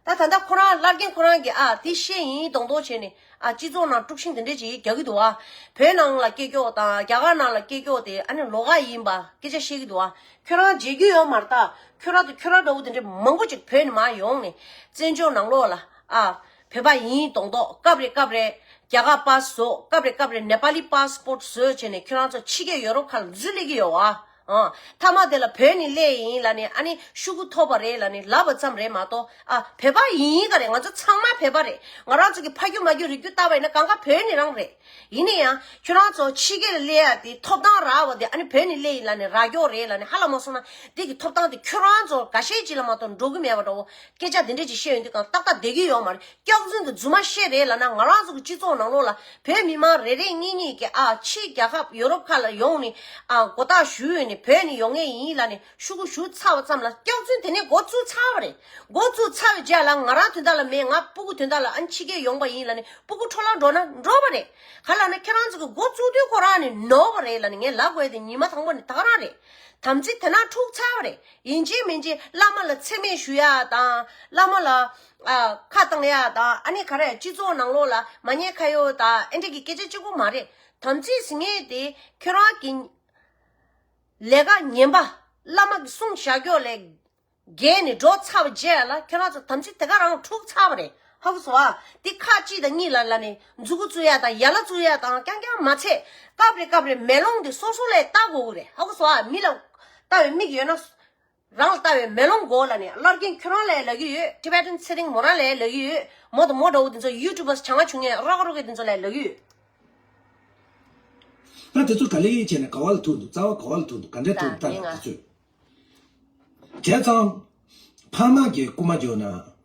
ད་ད་ལྟ་ཁོ་རང་བླ་རྒན་ཁོ་རང་གིས་ཨ་དེ་ཤེས་ཡིན་གདོང་གདོང་བྱས་ནས་ཨ་སྤྱི་ཚོགས་ནང་དཀྲུགས་ཤིང་དེ་འདྲས་ཅིག་རྒྱག་གི་འདུག་ཨ་བོད་ནང་ལ་སྐད་སྐྱོག་དང་རྒྱ་གར་ནང་ལ་སྐད་སྐྱོག་དེ་ཨ་ནི་ལོག་ཀ་ཡིན་པ་སྐད་ཆ་བཤད་གི་འདུག་ཨ་ཁྱོད་རང་མཇལ་རྒྱུ་ཡོད་མ་རྟགས་ཁྱོད་རང་དང་ཁྱོད་རང་འདྲ་བོ་དེ་འདྲས་མང་པོ་ཅིག་བོད་ནས་མ་ཡོང་ནས་བཙན་བྱོལ་ནང་ལོག་ལ་ཨ་བོད་པ་ཡིན་གདོང་གདོག་སྐབས་རེ་སྐབས་རེ་རྒྱ་གར་པཱ་བཟོ་སྐབས་རེ་སྐབས་རེ་ནེ་པཱ་ལི་པཱ་སྤོར་བཟོ་བྱས་ནས་ཁྱོད་རང་ཚོ་ཕྱི་རྒྱལ་ཡོ་རོབ་ཁ་ལ་འཛུལ་སླེབས་ཀྱི་ཡོད་ཨ། མཐའ་མ་དེ་ལ་བོད་ནི་ཀླད་ཡིན་ལ་ནི་ཨ་ནི་ཤུ་གུ་ཐོག་པ་རེད་ལ་ནི་ལབ་པ་ཙམ་རེད་མ་གཏོགས་ཨ་བོད་པ་ཡིན་ཡིན་ག་རེད་ང་ཚོ་ཚང་མ་བོད་པ་རེད་ང་རང་ཚོ་གི་ཕ་རྒྱུད་མ་རྒྱུད་རིགས་རྒྱུད་ལྟ་བ་ཡིན་ན་གང་ག་བོད་ནི་རང་རེད་ཡིན་ནི་ཡང་ཁྱོད་རང་ཚོ་ཕྱི་རྒྱལ་ལ་སླེ་ཡ་དེ་ཐོབ་ཐང་རག་བ་དེ་ཨ་ནི་བོད་ནི་ཀླད་ཡིན་ལ་ནི་ར་སྐྱོ་རེད་ལ་ནི་ཧ་ལ་མ་སོང་ན་དེ་གི་ཐོབ་ཐང་དེ་ཁྱོད་རང་ཚོ་ག་ཤེད་ཅིག་ལ་མ་གཏོགས་འགྲོ་གི་མེད་པ་འདྲ་བོ་སྐད་ཆ་དེ་འདྲས་ཅིག་བཤད་ཡོང་དུས་གང་ཏག་ཏག་བསྡད་ཀྱི་ཡོད་མ་རེད་སྐྱག་རྫུན་དུ་རྫུན་མ་བཤད་རེད་ལ་ན་ང་རང་ཚོ་གི་སྤྱི་ཚོགས་ནང་ལོགས་ལ་བོད་མི་དམངས་རེ་རེ་གཉིས་གཉིས་ཀྱི་ཨ་ཕྱི་རྒྱ་ཁབ་ཡོ་རོབ་ཁ་ལ་ཡོང་ནི་ཨ་མགོ་བཏགས་བཞུགས་ཡོད་ནི་བོད་ནི་ཡོང་ངེས་ཡིན་ལ་ནི་ཤུ་གུ་བཞུགས་ཚར་བ་ཙམ་ལ་སྐྱག་རྫུན་དེ་ནས་མགོ་བཙུགས་ཚར་བ་རེད་མགོ་བཙུགས་ཚར་བའི་རྗེས་ལ་ང་རང་དོན་དག་ལ་མེད་ང་སྤུ་གུ་དོན་དག་ལ་ཨ་འཆི་ཁའི་ཡོང་པ་ཡིན་ལ་ནི་སྤུ་གུ་འཕྲོ་བརླག་འགྲོ་ན་འགྲོ་བ་རེད་ག་ལ་ན་ཁྱེད་རང་ཚོ་གི་མགོ་བཙུགས་དུས་ཁོ་རང་ནི་ནོར་བ་རེད་ལ་ནི་ངས་ལབ་དགོས་དེ་ཉིན་མ་དང་པོ་ནི་དག་རང་རེད་དམ་ཚིག་དེ་ནང་འཁྲུགས་ཚར་བ་རེད་ཡིན་གཅིག་མིན་གཅིག་བླ་མ་ལ་འཚེ་མེད་ཞུ་ཡ་དང་བླ་མ་ལ། ཁ་བཏང་ཡ་དང་ཨ་ནེ་ག་རེ་སྤྱི་ཚོགས་ནང་ལོགས་ལ་མ་བསྙད་ཁ་ཡོད་དང་ཨེ་འགྲིག་གི་སྐད་ཆ་གཅིག་པོ་མ་རེད་དམ་ཚིག་ཟིན་ངེས་དེ་ཁྱོད་རང་གི་ལས་ཀ་ངན་པ་བླ་མ་གི་གསུང་བཞག་རྒྱོགས་ལས་རྒྱལ་ནས་འགྲོ་ཚར་བ་རྗེས་ལ་ཁྱོད་རང་ཚོ་དམ་ཚིག་དེ་ག་རང་འཁྲུག་ཚར་བ་རེད་ཧ་གོ་ཟོ་དེ་ཁ་གཅིག་དང་གཉིས་ལ་ལ་ནས་མཛུ་གུ་བཙུགས་ཡ་དང་ཡ་ལ་བཙུགས་ཡ་དང་རྐྱང་རྐྱང་མ་ཚད་སྐབས་རེ་སྐབས་རེ་མེ་ལོང་དེ་སོ་སོ་ལས་ལྟ་དགོས་གི་རེད་ཧ་གོ་ཟོ་མི་ལ་ལྟ་བའི་མིག་ཡོད་ན། རང་ལ་བལྟ་བའི་མེ་ལོང་མགོ་ལ་ནས་སླར་རྒན་ཁྱོད་རང་ལས་ལ་གི་ཡོད Tibetan ཚེ་རིང་མོ་རང་ལས་ལ་གི་ཡོད་མོ་དང་མོ་འདྲ་བོ་དེ་ཚོ YouTubers བྱང་ང་བྱུང་ངས་རོགས་རོགས་གི་དེ་ཚོ་ལས་ལ་གི་ཡོད། ད་དེ་ཚོ་ག་ལེ་ཡིན་བྱས་ནས་ག་བ་ལ་ཐུག་འདུག་རྩ་བ་ག་བ་ལ་ཐུག་འདུག་ག་འདྲས་ཐུག་འདུག་ལྟ་ལ་དེ་ཚོས། བྱས་ཙང། ཕག་ནག་གི་རྐུ་མ་འཇོག་ན།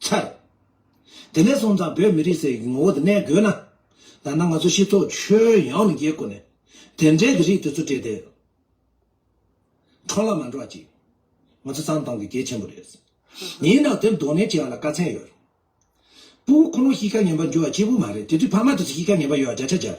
འཆར། དེ་ནས་བཟུང་དང་བོད་མི་རིགས་སའི་ངོ་བོ་དེ་གནས་དགོས་ན། ད་ནང་ང་ཚོ་སྤྱི་ཚོགས་ཆོས་ཡོངས་ནས་འགྱེལ་དགོས་ནས། དེ་འདྲའི་གི་རིགས་དེ་ཚོ་བྲིས་ཏེ། འཕྲོ་བརླག་མ་འགྲོ་བ་ཅིག་ང་ཚོ་ཙང་དང་གི་གལ་ཆེན་པོ་རེད། ཡིན་ནའང་དེ་མདོ་ནས་བྱེད་ཡ་ལ་དཀའ་ཚན་ཡོད། སྤུ་བོ་ཁོ་ནོ་གཤིས་ཀ་ངན་པ་འགྱུར་བ་སྐྱིད་པོ་མ་རེད་དེ་དུས་ཕ་མ་དེ་ཚོ་གཤིས་ཀ་ངན་པ་ཡོད་ཡ་རྒྱ་ཆ་རྒྱབ།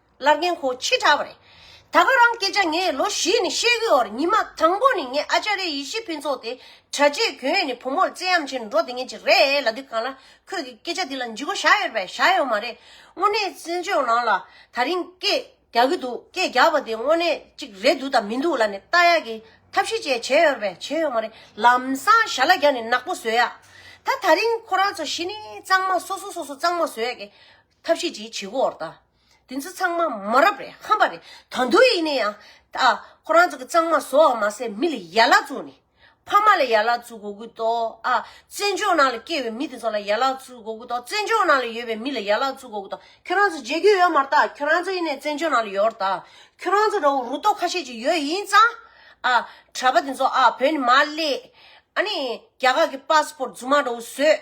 ལར་རྒན་ཁོ་ཆེ་དྲགས་པ་རེད། ད་ག་རང་སྐད་ཆ་ངས་ལོ་བཞི་ནས་བཤད་གི་འོར་ཉི་མ་དང་པོ་ནི་ངས་ཨ་ཅཱ་རའི་ཡེ་ཤེས་ཕུན་ཚོགས་དེ་གྲྭ་ཆས་གྱོན་ནས་བུ་མོར་བརྩེ་ཡམ་ཆེན་འགྲོ་དེ་ངེད་ཀྱི་རེད་ལ་དུས་གང་ལ་ཁོས་ཀྱི་སྐད་ཆ་དེ་ལ་འཇིགས་པོ་བཞག་ཡོད་པས་བཞག་ཡོད་མ་རེད་དངོས་གནས་བཙན་བྱོལ་ནང་ལ་ད་རིང་སྐད་རྒྱག་གི་འདུག་སྐད་རྒྱག་པ་དེ་དངོས་གནས་ཅིག་རེད་འདུག་དང་མི་འདུག་ལ་ནི་ལྟ་ཡག་གི་ཐབས་ཤེས་བཅས་བྱས་ཡོད་པས་བྱས་ཡོད་མ་རེད་ལམ་སང་ཞྭ་ལ་རྒྱག་ནས་ནག་པོ་བཟོས་ཡག་ད་ད་རིང་ཁོ་རང་ཚོ་ཞི་ནས་གཙང་མ་སོ་སོ་སོ་སོ་གཙང་མ་བཟོས་ཡག་གི། ཐབས་ཤེས་ཀྱིས་བྱེད་བོར་ད། དེ་ཚོ་ཚང་མ་མ་རབས་རེད་ཧམ་པ་རེད་ད་འདུག་ཡིན་ནའི་ཡང། ད་ཁོ་རང་ཚོ་གི་གཙང་མ་བཟོ་བ་མ་ཟད་མི་ལ་ཡ་ལ་བཙུགས་ནས། ཕ་མ་ལ་ཡ་ལ་བཙུགས་གོ་གི་འདུག་ཨ། བཙན་བྱོལ་ནང་ལ་སྐྱེས་བའི་མི་དེ་ཚོ་ལ་ཡ་ལ་བཙུགས་གོ་གི་འདུག་བཙན་བྱོལ་ནང་ལ་ཡོད་པའི་མི་ལ་ཡ་ལ་བཙུགས་གོ་གི་འདུག་ཁྱོད་རང་ཚོ་མཇལ་རྒྱུ་ཡོད་མར་ད་ཁྱོད་རང་ཚོ་ཡིན་ནའི་བཙན་བྱོལ་ནང་ལ་ཡོར་ད། ཁྱོད་རང་ཚོ་འདྲ་བོ་རུ་ཏོ་ཁ་ཤས་ཀྱི་ཡོད་ཡིན་ཙང། ཨ། གྲྭ་པ་དེ་ཚོ་ཨ་བོད་ནས་མ་བསླེས། ཨ་ནི། རྒྱ་གར་གི་པཱ་སི་པོར་རྫུན་མ་འདྲ་བོ་བཟོས།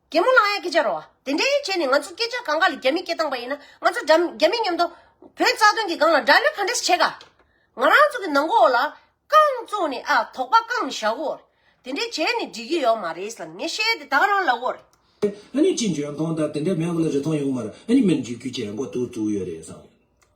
རྒན་མོ་ལགས་ཡ་སྐད་ཆ་རོ། དེ་འདྲའི་བྱས་ནས་ང་ཚོ་སྐད་ཆ་གང་ག་ལ་རྒྱ་མི་སྐད་བཏང་པ་ཡིན་ན་ང་ཚོ་རྒྱ་མི་མཉམ་དོ། བོད་རྩ་དོན་གྱི་སྒང་ལ་དགྲ་ལོས་ག་འདྲས་བྱས་ག། ང་རང་ཚོ་གི་ནང་གོ་ལ། རྐང་བཙུགས་ནས་ཨ་དོག་པ་བཀང་མི་བཞག་གོ། དེ་འདྲས་བྱས་ནས་འགྲིག་གི་ཡོག་མ་རེད་བསམ་ངས་བཤད་དེ་དག་རང་ལབ་གོ། ཨ་ནི་ཅི་འཇོན་ཐོང་ད་དེ་འདྲས་མེད་གོ་ལ་རི་ཐོང་ཡོག་མ་རེད་ཨ་ནི་མེར་འཇིག་རྒྱུ་བྱས་ཡང་གོ་ཐུག་བཙུགས་ཡོད་རེད་བསམ།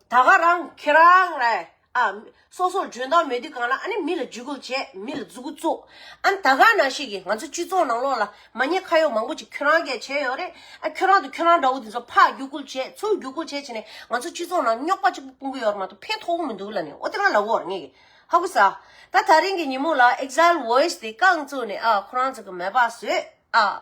ད་ག་རང་ཁྱེད་རང་ར་ཨ། སོ་སོར་འཇོན་ཐང་མེད་དུས་གང་ལ་ཨ་ནི་མི་ལ་བརྒྱུད་སྐུལ་བྱས་མི་ལ་རྫུ་གུ་བཙུགས། ཨ་ནི་ད་ག་ན་ཞིག་གིས་ང་ཚོའི་སྤྱི་ཚོགས་ནང་ལོགས་ལ་མ་ཉེས་ཁ་ཡོག་མང་པོ་ཅིག་ཁྱོད་རང་གས་བྱས་ཡོད་རེད་ཨ་ཁྱོད་རང་དང་ཁྱོད་རང་འདྲ་བོ་དེ་ཚོ་ཕག་བརྒྱུད་སྐུལ་བྱས་ཚུར་བརྒྱུད་སྐུལ་བྱས་བྱས་ནས་ང་ཚོ་སྤྱི་ཚོགས་ནང་རྙོག་པ་གཅིག་པུ་སྤུངས་གི་ཡོད་རེད་མ་གཏོགས་ཕན་ཐོག་པོ་མི་འདུག་ལ་ནི་ཨོ་དེ་རང་ལ་འོར་ངེས་གི་ཧ་གོ་ས་ཨ། ད་ད་རིང་གི་ཉིན་མོ་ལ Exile Voice དེ་རྐང་བཙུགས་ནས་ཨ་ཁོ་རང་ཚོ་གི་མེད་པ་བཟོས་ཨ།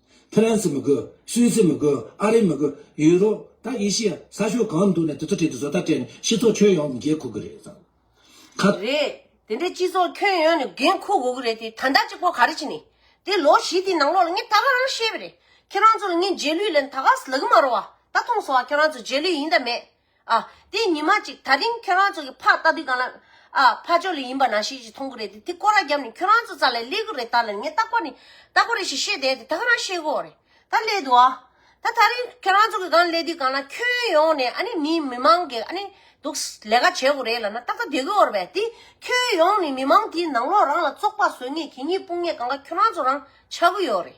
ཕི་རན་སི་མི་དགོས། སུད་སི་མི་དགོས། ཨ་རི་མི་དགོས། ཡུ་རོབ། ད་ཨེ་ཤི་ཡ། ས་ཕྱོགས་གང་ནས་འདུག་ནས་དེ་ཚོ་བྲིས་ཏེ་བཟོ་ལྟ་སྤྲད་ནས་སྤྱི་ཚོགས་ཁྱོན་ཡོངས་ཀྱི་འགན་འཁུར་གི་རེད་ཟེར། ཁ། རེད། དེ་འདྲའི་སྤྱི་ཚོགས་ཁྱོན་ཡོངས་ནས་འགན་འཁུར་དགོས་ཀྱི་རེད་དེ་ད་ལྟ་གཅིག་པོ་ག་རེ་བྱེད་ནས། དེ་ལོ་བཞི་དེའི་ནང་ལོགས་ལ་ངས་ད་ག་རང་ཤེས་པ་རེད། ཁྱེད་རང་ཚོ་ལ་ངས་རྗེས་ལུས་ལན་ད་ག་ཟླ་གི་མ་རོ་བ། ད་ཐོངས་སོང་བ་ཁྱེད་རང་ཚོ་རྗེས་ལུས་ཡིན་ད་མེད། ཨ། དེ་ཉི་མ་གཅིག་ད་རིང་ཁྱོད་རང་ཚོ་གི་ཕ་ལྟ་དུས་གང་ལ། ཨ། ཕ་ཅོ་ལི་ཡིན་པ་ན་ཤེས་ཀྱི་མཐོང་གི་རེད་དེ་དེ་ཀོ་ར་བརྒྱབ་ནས་ཁྱོད་རང་ཚོ་ཙ་ལས་ལས་གི་རེད་ད་ལན་ངས་རྟག་པ་ནི་རྟག་པ་རེད་ཞེས་བཤད་བསྡད་དེ་ད་ཁ་རང་ཤེས་གོ་རེད་ད་སླད་དུ་ཨ། ད་ད་རིང་ཁྱོད་རང་ཚོ་གི་གང་སླད་དུས་གང་ལ་ཁྱོད་ཡོང་ནས་ཨ་ནི་མི་མི་མང་གི་ཨ་ནི་འདུག་ལས་ཀ་བྱེད་གི་རེད་ལ་ན་རྟག་ཏུ་བསྡད་གོ་རེད་དེ་ཁྱོད་ཡོང་ནས་མི་མང་དེའི་ནང་ལོག་རང་ལ་བཙོག་པ་བཟོས་ངས་གྱིས་ངས་སྤུངས་ངས་གང་ག་ཁྱོད་རང་ཚོ་རང་ཆ་གི་ཡོད་རེད།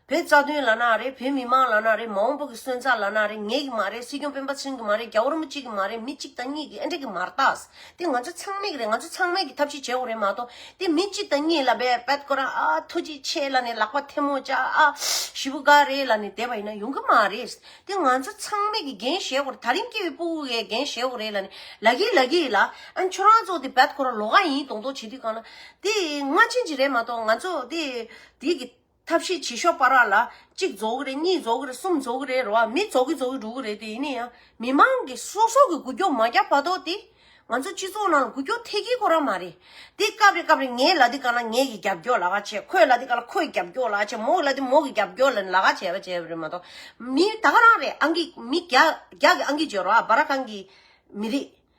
བོད་རྩ་དོན་ལ་ན་རེ་བོད་མི་དམངས་ལ་ན་རེ་མ་འོངས་པོ་གི་སོན་རྩ་ལ་ན་རེ་ངེད་ཀྱི་མ་རེད་སྲིད་སྐྱོང་སྤེན་པ་ཚུན་གྱི་མ་རེད་རྒྱ་བོར་མོ་གཅིག་གི་མ་རེད་མི་གཅིག་དང་གཉིས་ཀྱི་ཨེ་འགྲིག་གི་མ་རྟགས་དེ་ང་ཚོ་ཚང་མེད་ཀྱི་རེད་ང་ཚོ་ཚང་མེད་ཀྱི་ཐབས་ཤེས་བྱེད་འོག་རེད་མ་གཏོགས་དེ་མི་གཅིག་དང་གཉིས་ལ་བེད་བེད་ཀོ་ར་ཨ་ཐུགས་རྗེ་ཆེ་ལ་ནི་ལག་པ་ཐལ་མོ་བཅག་ཨ་ཞི་བུ་འགའ་རེ་ལ་ནི་དེ་བ་ཡིན་ན་ཡོང་གི་མ་རེད་དེ་ང་ཚོ་ཚང་མེད་ཀྱི་འགན་བཞེས་འོག་རེད་ད་རིང་སྐྱེ་བའི་པོ་འི་འགན་བཞེས་འོག་རེད་ལ་ནི་ལ་གིའི་ལ་གིའི་ལ་ཨ་ཁྱོད་རང་ཚོ་དེ་བེད་ཀོ་ར་ལོག་ཨ་ཡིན་གདོང་གཏོགས་བྱེད་དུས་གང་ལ་དེ་སྔ་ཕྱི་གཅིག་རེད་མ་གཏོགས་ང་ཚོ་དེ་དེ་གི། ཐབས་ཤེས་བྱེད་ཤོག་པ་ར་ལ་གཅིག་རྫོགས་ཀྱི་རེད་གཉིས་རྫོགས་ཀྱི་རེད་གསུམ་རྫོགས་ཀྱི་རེད་རོ་ཨ་མི་རྫོགས་ཀྱི་རྫོགས་ཀྱི་འགྲོ་གི་རེད་དེ་ཡིན་ན་ཡང་མི་མང་གི་སོ་སོ་གི་རྒུད་སྐྱོབ་མ་རྒྱག་པ་དོག་དེ། ང་ཚོ་སྤྱི་ཚོགས་ནང་ལ་རྒུད་སྐྱོབ་ཐེ་གི་གོ་ར་མ་རེད། དེ་སྐབས་རེ་སྐབས་རེ་ངའི་ལ་དེ་ག་ལ་ངའི་གི་རྒྱབ་སྐྱོར་ལ་ཁ་བྱེད་ཁོའི་ལ་དེ་ག་ལ་ཁོའི་རྒྱབ་སྐྱོར་ལ་ཁ་བྱེད་མོའི་ལ་དེ་མོའི་གི་རྒྱབ་སྐྱོར་ལ་ལ་ཁ་བྱེད་པ་བྱེད་པ་རེད་མ་གཏོགས། མི་ད་ག་རང་རེད་ཨང་ཀི་མི་རྒྱ་རྒྱ་གི་ཨང་ཀི་བརྗོད་རོགས་ཨ་བ་ར་གང་གི་མི་རིགས།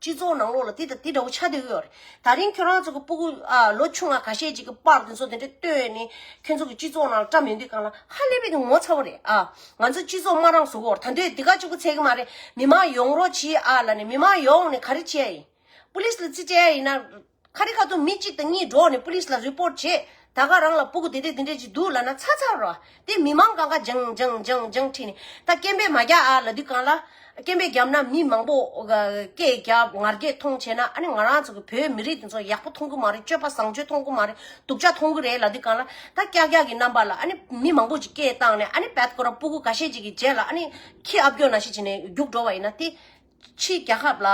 སྤྱི་ཚོགས་ནང་ལོགས་ལ་དེ་དང་དེ་འདྲ་བོ་ཆགས་བསྡད་ཡོད་རེད། ད་རིང་ཁྱོད་རང་ཚོ་གི་སྤུ་གུ། ལོ་ཆུང་བ་ག་ཤེད་ཅིག་གི་པར་དེ་ཚོ་དེ་འདྲ་བཏོན་ནས་ཁྱོད་ཚོ་གི་སྤྱི་ཚོགས་ནང་ལ་བཀྲ་མི་འདུག་གང་ལ་ཧ་ལས་པའི་ངོ་ཚ་བོ་རེད་ཨ། ང་ཚོ་སྤྱི་ཚོགས་དམར་རང་བཟོ་བོར་ད་འདོད་དེ་ག་ཅིག་པུ་ཚད་གི་མ་རེད་མི་མང་ཡོང་རོགས་གྱིས་ཨ་ལ་ནས་མི་མང་ཡོང་ནས་ག་རེ་བྱེད་ཡ་ཡིན། པུ་ལིས་ལ་རྩིས་སྤྲད་ཡ་ཡིན་ན། ཁ་རི་ཁ་ཚུར་མི་གཅིག་དང་གཉིས་འགྲོགས་ནས་པུ་ལིས་ལ་རི་པོར་བྱས། ད་སྐབས་རང་ལ་སྤུ་གུ་དེ་དེ་འདི་འདྲས་ཅིག་འདུག་ལབ་ན་ཚ་ཚ་རོགས་དེ་མི་མང་གང་ག་འཇང་འཇང་འཇང་འཇང་ཁྲིད་ནས་ད་སྐད་འབད་མ་རྒྱག་ཨ་ལ་དུས་གང་ལ། སྐད་འབད་རྒྱབ་ན་མི་མང་པོ་སྐད་རྒྱབ་ངར་སྐད་མཐོང་བྱས་ན་ཨ་ནི་ང་རང་ཚོ་གི་བོད་མི་རིགས་དེ་ཚོ་ཡག་པོ་མཐོང་གི་མ་རེད་སྤྱོད་པ་བཟང་སྤྱོད་མཐོང་གི་མ་རེད་སྡུག་ཅག་མཐོང་གི་རེད་ལ་དུས་གང་ལ། ད་སྐྱག་སྐྱག་གི་རྣམ་པ་ལ་ཨ་ནི་མི་མང་པོ་ཅིག་སྐད་བཏང་ནས་ཨ་ནི་བད་ཀོ་ར་སྤུ་གུ་ག་ཤེད་ཅིག་གི་རྗེས་ལ་ཨ་ནི་ཁྱི་ཨ་བརྒྱོ་ན་ཤི་བྱས་ནས་རྒྱུགས་འགྲོ་བ་ཡིན་ན་དེ། ཕྱིའི་རྒྱལ་ཁབ་ལ་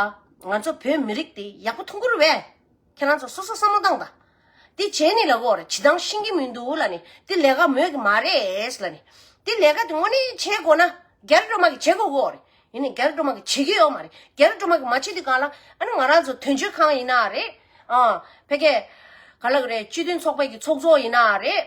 ང་ཚོ་བོད་མི་རིགས་དེ་ཡག་པོ་མཐོང་ཁུལ་བས། ཁྱེད་རང་ཚོ་སོ་སོ་བསམ་བློ་བཏང་དང། དེ་བྱས་ནས་ལ་འོར་བྱེད་སྟངས་ཤེས་ཀྱི་མི་འདུག་ལ་ནི་དེ་ལས་ཀ་མོས་ཀྱི་མ་རེད་ལ་ནི། དེ་ལས་ཀ་དེ་དངོས་གནས་བྱེད་དགོས་ན་རྒྱ་རི་སྒྲོལ་མ་གི་བྱེད་དགོས་འོར། ཡིན་ནས་རྒྱ་རི་སྒྲོལ་མ་གི་བྱེད་ཀྱི་ཡོད་མ་རེད་རྒྱ་རི་སྒྲོལ་མ་གི་མ་བྱེད་དེ་གང་ལ་ཨ་ནི་ང་རང་ཚོ་དོན་གཅོད་ཁང་ཡིན་ན་རེད། ཨ་ཕལ་སྐད། ག་ལ་གི་རེད་སྤྱི་མཐུན་ཚོགས་པའི་གི་ཚོགས་གཙོ་ཡིན་ན་རེད།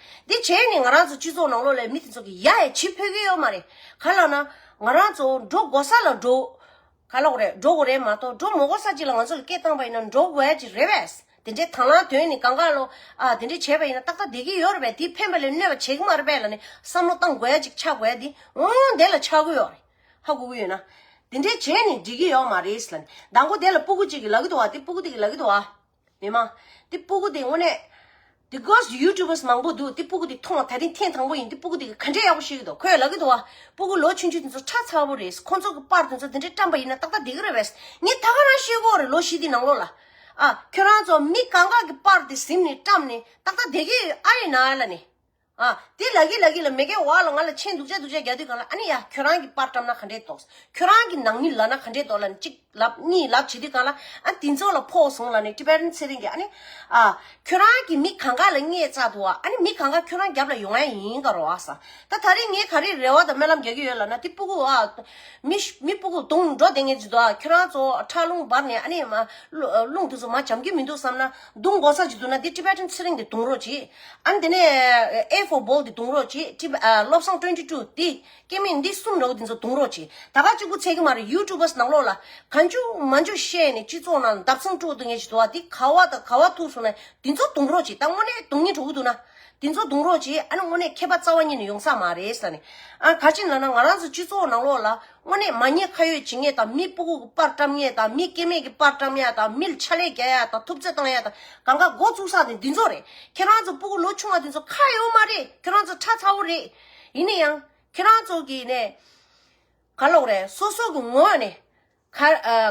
འདི་བྱས་ནས་ང་རང་ཚོ་སྤྱི་ཚོགས་ནང་ལོགས་ལས་མི་དེ་ཚོ་གི་ཡ་ཡ་བྱེད་ཕོད་ཀྱི་ཡོད་མ་རེད་ག་ལ་ན་ང་རང་ཚོ་འགྲོ་དགོ་ས་ལ་འགྲོ་ག་ལོགས་རེད་འགྲོ་གོ་རེད་མ་གཏོགས་འགྲོ་མོ་གོ་ས་ཅིག་ལ་ང་ཚོ་ལ་སྐད་བཏང་པ་ཡིན་ན་འགྲོ་གོ་ཡ་ཅིག་རེད་བས་དེ་འདྲའི་དང་བླང་དོན་ནི་ག་འགའ་ལོ་ཨ་དེ་འདྲའི་བྱས་པ་ཡིན་ན་ཏག་ཏག་བསྡད་ཀྱི་ཡོད་རེད་བས་དེ་ཕན་པ་ལས་གནོད་པ་བྱེད་ཀྱི་མ་རེད་བས་ལ་ནི་བསམ་བློ་གཏང་གོ་ཡ་ཅིག་ཆགས་གོ་ཡ་དེ་ངོ་ངོ་དེ་ལ་ཆགས་ཀྱི་ཡོད་རེད་ཧ་གོ་གི་ཡོད་ན་དེ་འདྲའི་བྱས་ནི་འགྲིག་གི་ཡོད་མ་རེད་ལ་ནི་ཟླ་འགོ་དེ་ལ་སྤུ་གུ་ཅིག་གི་ལག་གི་དུ་བ་དེ་སྤུ་གུ་དེ་གི་ལག་གི་དུ་བ། མི་མང། དེ་སྤུ་གུ་དེ་དངོས་གནས། དེ་སྒོ་སུ YouTubers མང་པོ་འདུག་དེ་སྤུ་གུ་དེ་མཐོང་བ་ད་རིང་ཐེངས་དང་པོ་ཡིན་དེ་སྤུ་གུ་དེ་གི་ག་འདྲས་ཡག་པོ་ཤེས་ཀྱི་འདུག་ཁོའི་ལག་གི་དུ་བ་སྤུ་གུ་ལོ་ཆུང་ཆུང་དེ་ཚོ་ཁྲག་ཚ་བོ་རེད་ཁོ་ཚོ་གི་པར་དེ་ཚོ་དེ་འདྲས་བཀྲམས་པ་ཡིན་ན་ཏག་ཏག་དེ་གི་རེད་བས་ངས་ད་ག་རང་ཤེས་དགོས་རེད་ལོ་བཞི་དེ་ནང་ལོགས་ལ། ཨ། ཁྱོད་རང་ཚོ་མི་ག་འགག་གི་པར་དེ་གཟིམས་ནས་བཀྲམས་ནས་ཏག་ཏག་དེ་གི་ཨ་ཡི་ན་ཨ་ལ་ནས། ཨ། དེ་ལག་གི་ལག་གི་ལ་མེ་ཀའི་བ་ལ་ང་ལ་མཆན་འདུག་བྱ་འདུག་བྱ་རྒྱག་དུས་གང་ལ་ཨ་ནི་ཡ་ཁྱོད་རང་གི་པར་བཀྲམ་ན་ག་འདྲས་འདོགས། ཁྱོད་རང་གི་ནང་མི་ལབ་ན་ག་འདྲས་འདོགས་ལ་ནི་གཅིག་ལབ་གཉིས་ལབ་བྱེད་དུས་གང་ལ་ཨ་དེ་ཚོ་ལ་ཕོག་སོང་ལ་ནི་ཀྲི་པེ་རན་ཚེ་རིང་གིས་ཨ་ནི་ཨ། ཁྱོད་རང་གི་མི་གང་ག་ལ་རྙེད་བཅག་འདུག་ཨ་ཨ་ནི་མི་གང་ག་ཁྱོད་རང་རྒྱབ་ལ་ཡོང་ཨ་ཡིན་ག་རོ་ཨ་ས། ད་ད་རེས་ངས་ག་རེ་རེ་བ་དང་སྨོན་ལམ་རྒྱག་གི་ཡོད་ལབ་ན་དེ་སྤུ་གུ་ཨ། མི་མི་སྤུ་གུ་དུང་འགྲོ་བསྡད་ངེས་ཅི་འདུག་ཨ་ཁྱོད་རང་ཚོ་ཁྲག་རླུང་འབར་ནས་ཨ་ནི་མ་རླུང་དེ་ཚོ་མ་འཇམ་གྱི་མི་འདུག་བསམ་ན་དུང་འགོག་ས་ཅི་འདུག་ན་དེ་ཀྲི་པེ་རན་ཚེ་རིང་གིས་དུང་རོགས་བྱེད། ཨང་དེ་ནས A for ball དེ་འདུང་རོགས་གྱིས་བཀྲིས་པ་བློ་བཟང twenty two དེ་སྐད་མིན་འདི་གསུམ་རེའུ་དེ་ཚོ་འདུང་རོགས་གྱིས་ད་ག་གཅིག་པུ་ཚད་ཀྱི་མ་རེད YouTubers ནང་ལོགས་ལ་ག་འཇུག་མ་འཇུག་བཤད་ནས་སྤྱི་ཚོགས་ནང་འདབ་ཚང་དཀྲུག་འདུག་ངས་ཇི་ཐུ་བ་དེ་ག་བ་དང་ག་བ་ཐུག་སོང་ནས་དེ་ཚོ་འདུང་རོགས་གྱིས་ད་དངོས་གནས་དུང་གཉིས་དྲུག་འདུག་ན་དེ་ཚོ་འདུང་རོགས་གྱིས་ཨ་ནི་དངོས་གནས་མཁས་པ་རྩ་བ་ཉིད་ནས་ཡོང་ས་མ་རེད་ས་ནས་ཨ་ག་ཅིག་ལ་ན་ང་རང་ཚོ་སྤྱི་ཚོགས་ནང་ལོགས་ལ་སྔོ་ནད་མ་ཉེས་ཁ་ཡོད་བྱིང་ངེས་དང་མིའི་སྤུ་སྐུགས་ཀྱི་པར་བཀྲམ་ངེས་དང་མིའི་སྐེ་མེད་ཀྱི་པར་བཀྲམ་ཡག་དང་མིལ་ཆ་ལེ་རྒྱག་ཡག་དང་ཐུབ་ཚོད་བཏང་ཡག་དང་གང་ག་འགོ་བཙུགས་ས་ནི་འདི་ཚོ་རེད་ཁྱེད་རང་ཚོ་སྤུ་སྐུགས་ལོ་ཆུང་བ་འདི་ཚོ་ཁ་ཡོད་མ་རེད་ཁྱེད་རང་ཚོ་ཁྲ་ཚ་བོ་རེད་ཡིན་ན་ཡང་ཁྱེད་རང་ཚོ་གི་ནས་ག་ལོག་རེད་སོ་སོ་གི་ངོ་ནས་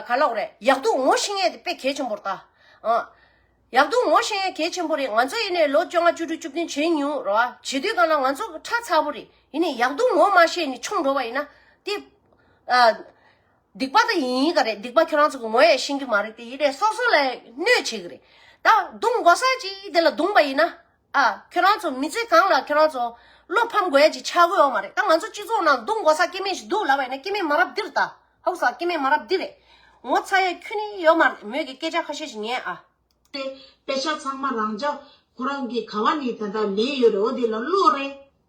ག་ལོག་རེད་ཡག་སྡུག་ངོ་ཤེས་ངེས་དེ་དཔེ་གལ་ཆེན་པོར་ལྟ། ཡག་འདུག་ངོ་ཤེས་ཡ་གལ་ཆེན་པོ་རེད་ང་ཚོ་ཡེ་ནས་ལོ་བཅོ་ལྔ་བཅུ་དྲུག་བཅུ་བདུན་བྱེད་མྱོང་ར་བ་བྱེད་དུས་གང་ན་ང་ཚོ་ཁྲ་ཚ་པོ་རེད་ཡེ་ནས་ཡག་འདུག་ངོ་མ་ཤེས་ནས་ཆོམ་འགྲོ་བ་ཡིན་ན་དེ་སྡིག་པ་དེ་ཡིན་ཡིན་ག་རེད་སྡིག་པ་ཁྱོད་རང་ཚོ་གི་ངོ་ཡ་ཤེས་ཀྱི་མ་རེད་དེ་ཡེ་ནས་སོ་སོ་ལ་གནོད་བྱེད་ཀྱི་རེད་ད་རྡུང་དགོ་ས་ཅི་དེ་ལ་རྡུང་པ་ཡིན་ན། ཨ། ཁྱོད་རང་ཚོ་མི་ཚེ་གང་ལ་ཁྱོད་རང་ཚོ་བློ་ཕམ་དགོས་ཀྱི་ཆགས་དགོས་འོ་མ་རེད་ད་ང་ཚོ་སྤྱི་ཚོགས་ནང་སྡུག་འགོ་ས་སྐྱེ་མེད་ཞིག་འདུག་ལབ་པ་ཡིན་ན་སྐྱེ་མེད་མ་རབས་འདིར་ད་ཧཱུྃ་ས་སྐྱེ་མེད་མ་རབས་འདི་རེད། ངོ་ཚ་ཡས་ཁྱོད་ནི་ཡོད་མ་རེད་མོད་ཀྱི་སྐད་ཆ་ཁ་ཤས་ཤིག་ཉན་ཨ། དཔེ་ཆ་ཚང་མ་རང་ཅག་ཁོ་རང་གི་ག་བ་ནས་ད་ལྟ་ལེན་ཡོད་རེད་འོ་དེ་ལ་བློ་རེད།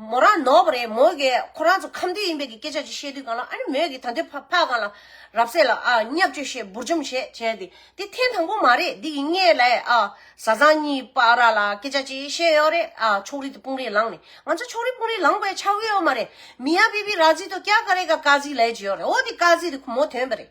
མོ་རང་ནོར་བ་རེད་མོ་གིས་ཁོ་རང་ཚོ་ཁམས་དུས་ཡིན་པའི་གི་སྐད་ཆ་ཅིག་བཤད་དུས་གང་ལགས་ཨ་ནི་མོས་གིས་ད་དུས་ཕ་ཕ་གང་ལགས་རབ་གསལ་ལགས་ཨ་བསྙབ་བཅོས་བཤད་འབུར་འཇོམས་བྱས་བྱས་ཏེ་དེ་ཐེངས་དང་པོ་མ་རེད་འདི་ཡིན་ངས་ལས་ཨ་བཟའ་ཚང་གཉིས་པ་ར་ལ་སྐད་ཆ་ཅིག་བཤད་ཡོད་རེད་ཨ་ཕྱོགས་རིས་དེ་དཔུང་རིས་ལངས་ནས་ང་ཚོ་ཕྱོགས་རིས་དཔུང་རིས་ལངས་པའི་ཆ་གི་ཡོད་མ་རེད་མི་ཡ་པི་པི་ར་ཛི་ཏོ་ཀྱ་ཀ་རེ་ཀ་ཀ་ཛི་ལས་ཀྱི་ཡོད་རེད་འོ་དེ་ཀ་ཛི་དེ་ཁོ་མོ་དོན་པ་རེད་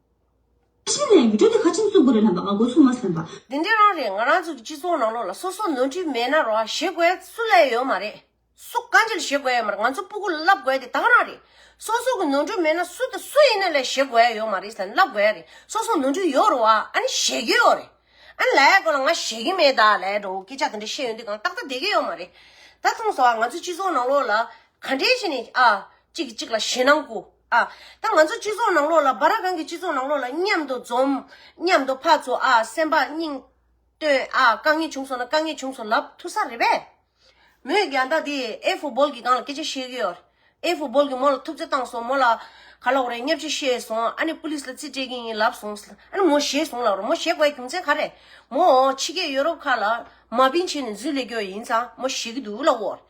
ཕྱི་ནས་འགྲོ་དེ་ཁ་ཆེམས་གསུངས་པོ་རེད་ལབ་པ་ང་འགོ་ཚུགས་མ་སོན་པ། འདི་འདྲས་རང་རེད་ང་རང་ཚོ་གི་སྤྱི་ཚོགས་ནང་ལོག་ལ་སོ་སོ་ནོར་འཁྲུལ་མེད་ན་རོགས་ཞེ་དགོས་སུ་ལས་ཡོད་མ་རེད་སུ་དཀའ་འགྱེལ་ཞེ་དགོས་ཡོད་མ་རེད་ང་ཚོ་སྤུ་གུ་ལ་ལབ་དགོས་དེ་དག་རང་རེད་སོ་སོ་གི་ནོར་འཁྲུལ་མེད་ན་སུ་དང་སུ་ཡིན་ན་ལས་ཞེ་དགོས་ཡོད་མ་རེད་ཟེར་ན་ལབ་དགོས་རེད་སོ་སོ་ནོར་འཁྲུལ་ཡོད་རུང་བ་ཨ་ནི་ཞེ་གི་ཡོད་རེད་ཨ་ནི་ལའི་སྐོར་ལ་ང་ཞེ་གི་མེད་ད་ལའི་འགྲོ་འོང་སྐད་ཆ་དེ་འདྲ་བཤད་ཡོང་དུས་གང་ཏག་ཏག་བསྡད་གི་ཡོད་མ་རེད་ད་མཐོང་ཟ་བ་ང་ཚོ་སྤྱི་ཚོགས་ནང་ལོག་ལ་ག་འདྲས་བྱས་ནས་ཨ་གཅིག་གིས་གཅིག་ལ་ཞེད་སྣང་སྐུ། ཨ། ད་ང་ཚོ་སྤྱི་ཚོགས་ནང་ལོགས་ལ་བཱ་ར་གང་གི་སྤྱི་ཚོགས་ནང་ལོགས་ལ་མཉམ་དུ་འཛོམས། མཉམ་དུ་ཕར་ཚུར་ཨ་སེམས་པ་སྙིང། བཏོན་ཨ་དཀའ་ངལ་བྱུང་སོང་ན་དཀའ་ངལ་བྱུང་སོང་ལབ་ཐུབ་ས་རེད་པས། མོས་རྒྱ་ཟླ་འདི་ཨེ་ཧྥུ་སྦོལ་གྱི་སྒང་ལ་སྐད་ཆ་བཤད་གི་ཡོད། ཨེ་ཧྥུ་སྦོལ་གྱི་མོ་ལ་ཐུབ་ཚོད་བཏང་སོང་མོ་ལ། ག་ལོག་རེད་སྙབ་ཆེ་བཤད་སོང་ཨ་ནི་ཕུ་ལིས་ལ་རྩིས་སྤྲད་གི་ཡིན་ལབ་སོང། ཨ་ནི་མོ་བཞེས་སོང་ལབ་རོགས་མོ་བཞེས་དགོས་ཡ་རྒྱུ་མཚན་ག་རེད། མོ་འོ་ཕྱི་རྒྱལ་ཡོ་རོབ་ཁག་ལ། མ་པིན་བྱས་ནས་འཛུལ་ལས་རྒྱོ་ཡིན་ཙང་མོ་བཞེས་གི་འདུག་ལབ་འོ།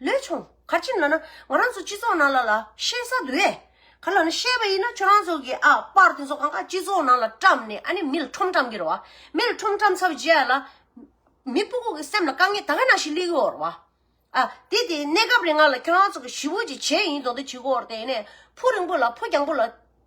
ལོས་བྱུང། ག་ཅིག་ལ་ན་ང་རང་ཚོ་སྤྱི་ཚོགས་ནང་ལ་ལ་ཤེས་ས་འདུག་ཨེ། ག་ལ་ན་ཤེས་པ་ཡིན་ན་ཁྱོད་རང་ཚོ་གི་ཨ་པར་དེ་ཚོ་གང་ག་སྤྱི་ཚོགས་ནང་ལ་བཀྲམས་ནས་ཨ་ནི་མི་ལ་ཁྲོམ་བཀྲམས་གི་རེད་བ། མི་ལ་ཁྲོམ་བཀྲམས་ཚར་རྗེས་ཨ་ལ། མི་སྤུ་ཀོག་གི་སེམས་ལ་དཀའ་ངལ་ད་ག་ནང་ཞིག་སླེབས་ཀི་འོར་བ། ཨ། དེ་དེ་གནས་སྐབས་རེ་ང་ལ་ཁྱོད་རང་ཚོ་གི་ཞི་བོ་ཅིག་བྱས་ཡིན་དོ་དེ་བྱེད་གི་འོར་དེ་ནས་ཕུ་རིང་པོ་ལ་ཕུ་རྒྱང་པོ་ལ་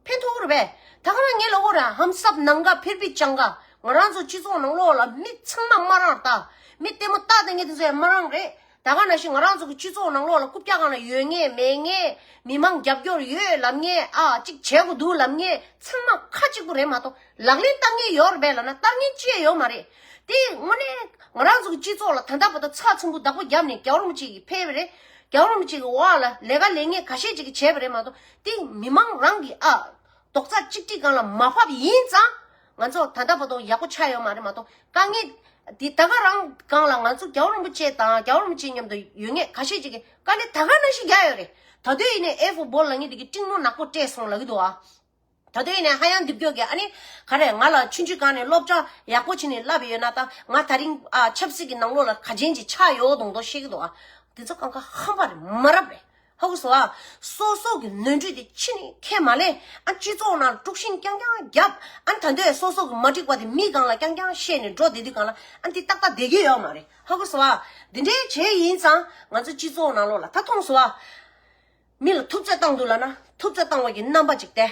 ཕན་ཐོགས་རེད་པས། ད་ག་རང་ངའི་ལོ་འོར་ར་ཧམ་སབ་ནམ་དགའ་ཕེར་པི་ཅང་ག། ང་རང་ཚོ་སྤྱི་ཚོགས་ནང་ལོག་ལ་མི་ཚང་མ་མ་རང་རྟགས། མི་ལྟད་མོ་རྟགས་དེ་ངས་དེ་ཚོ་ཡང་མ་རང་རེད། ད་ག་ན་ཞིག་ང་རང་ཚོ་གི་སྤྱི་ཚོགས་ནང་ལོག་ལ་རྐུབ་བཀྱག་གང་ལ་ཡོད་ངེས་མེད་ངེས། མི་མང་རྒྱབ་སྐྱོར་ཡོད་ལབ་ངེས་ཨ་ཅིག་བྱས་དགོས་འདུག་ལབ་ངེས་ཚང་མ་ཁ་ཅིག་པུ་རེད་མ་གཏོགས་ལག་ལེན་བསྟར་ངེས་ཡོད་རེད་པས་ལ་ན་བསྟར་ངེས་ཅི་ཡང་ཡོད་མ་རེད། དེ་དངོས་གནས་ང་རང་ཚོ་གི་སྤྱི་ཚོགས་ལ་ད་ལྟ་བ་ད་ཚ་ཚོམ་བུ་བདག་པོ་བརྒྱབ་ནས་གྱ་རོམ་ཅིག་ཕེར་བས་རེད། གྱ་རོམ་ཅིག་གི་བར་ལ་ལས་ཀ་ལས་ངན་ག་ཤེད་ཅིག་བྱས་པས་རེད་མ་གཏོགས་དེ་མི་མང་རང་གི་ཨ། རྡོག་རྩ་གཅིག་སྒྲིལ་གང་ལ་མ་ཕབ་ཡིན་ཙང། ང་ཚོ་ད་ལྟ་བར་དུ་ཡག་པོ་ཆགས་ཡོད་མ་རེད་མ་གཏོགས་དཀའ་ངལ། དེ་ད་ག་རང་གང་ལ་ང་ཚོ་རྒྱ་བོ་རིན་པོ་ཆེ་དང་རྒྱ་བོ་རིན་པོ་ཆེ་མཉམ་དུ་ཡོད་ངེས་ག་ཤེད་ཅིག་གིས་དཀའ་ལས་ད་ག་ན་ཞིག་རྒྱག་ཡོད་རེད་ད་དུས་ཡིན་ནའི་ཨེ་ཧྥུ་སྦོ་ལ་ངས་འདི་གི་སྤྲིང་མོ་ནག་པོ་སྤྲད་སོང་ལ་གི་འདུག་ཨ། ད་དུས་ཡིན་ནའི་ཧ་ཡང་འདི་བསྐྱོད་གི་ཨ་ནི་ག་རེད་ང་ལ་ཆུང་ཆུས་གང་ནས་སློབ་གྲྭ་ཡག་པོ་བྱིན་ནས་བསླབས་ཡོད་ན་ད་ང་ད་རིང་ཨ་ཆབ་སྲིད་གི་ནང་ལོགས་ལ་ག་ཅན་ཅིག་ཆགས་ཡོད་འདུག་འདོག་ཤེས་གི་འདུག་ཨ། འདི་ཚོ་གང་ག་ཧམ་པ་རེད་མ་རབས་རེད། ཧཱུྃ་བྷྱོ། སོ་སོགས་ཀྱི་ནོན་འཁྲུལ་དེ་ཕྱི་ནས་ཁས་མ་ལེན། སྤྱི་ཚོགས་ནང་དཀྲུག་ཤིང་རྐྱང་རྐྱང་བརྒྱབ། ད་འདོད་སོ་སོ་གི་མ་འགྲིག་པ་དེ་མི་གང་ལ་རྐྱང་རྐྱང་བཤད་ནས་འགྲོ་བསྡད་དུས་གང་ལ་འདི་ཏག་ཏག་བསྡད་ཀྱི་ཡོད་མ་རེད། ཧཱུྃ་བྷྱོ། འདི་འདྲའི་བྱས་ཡིན་ཙང་ང་ཚོ་སྤྱི་ཚོགས་ནང་ལོག་ལ་ད་ཐོངས་བྷྱོ། མི་ལ་ཐུབ་ཚོད་བཏང་འདུག་ལ་ན་ཐུབ་ཚོད་བཏང་བ་གྱི་རྣམ་པ་ཅིག་སྟེ།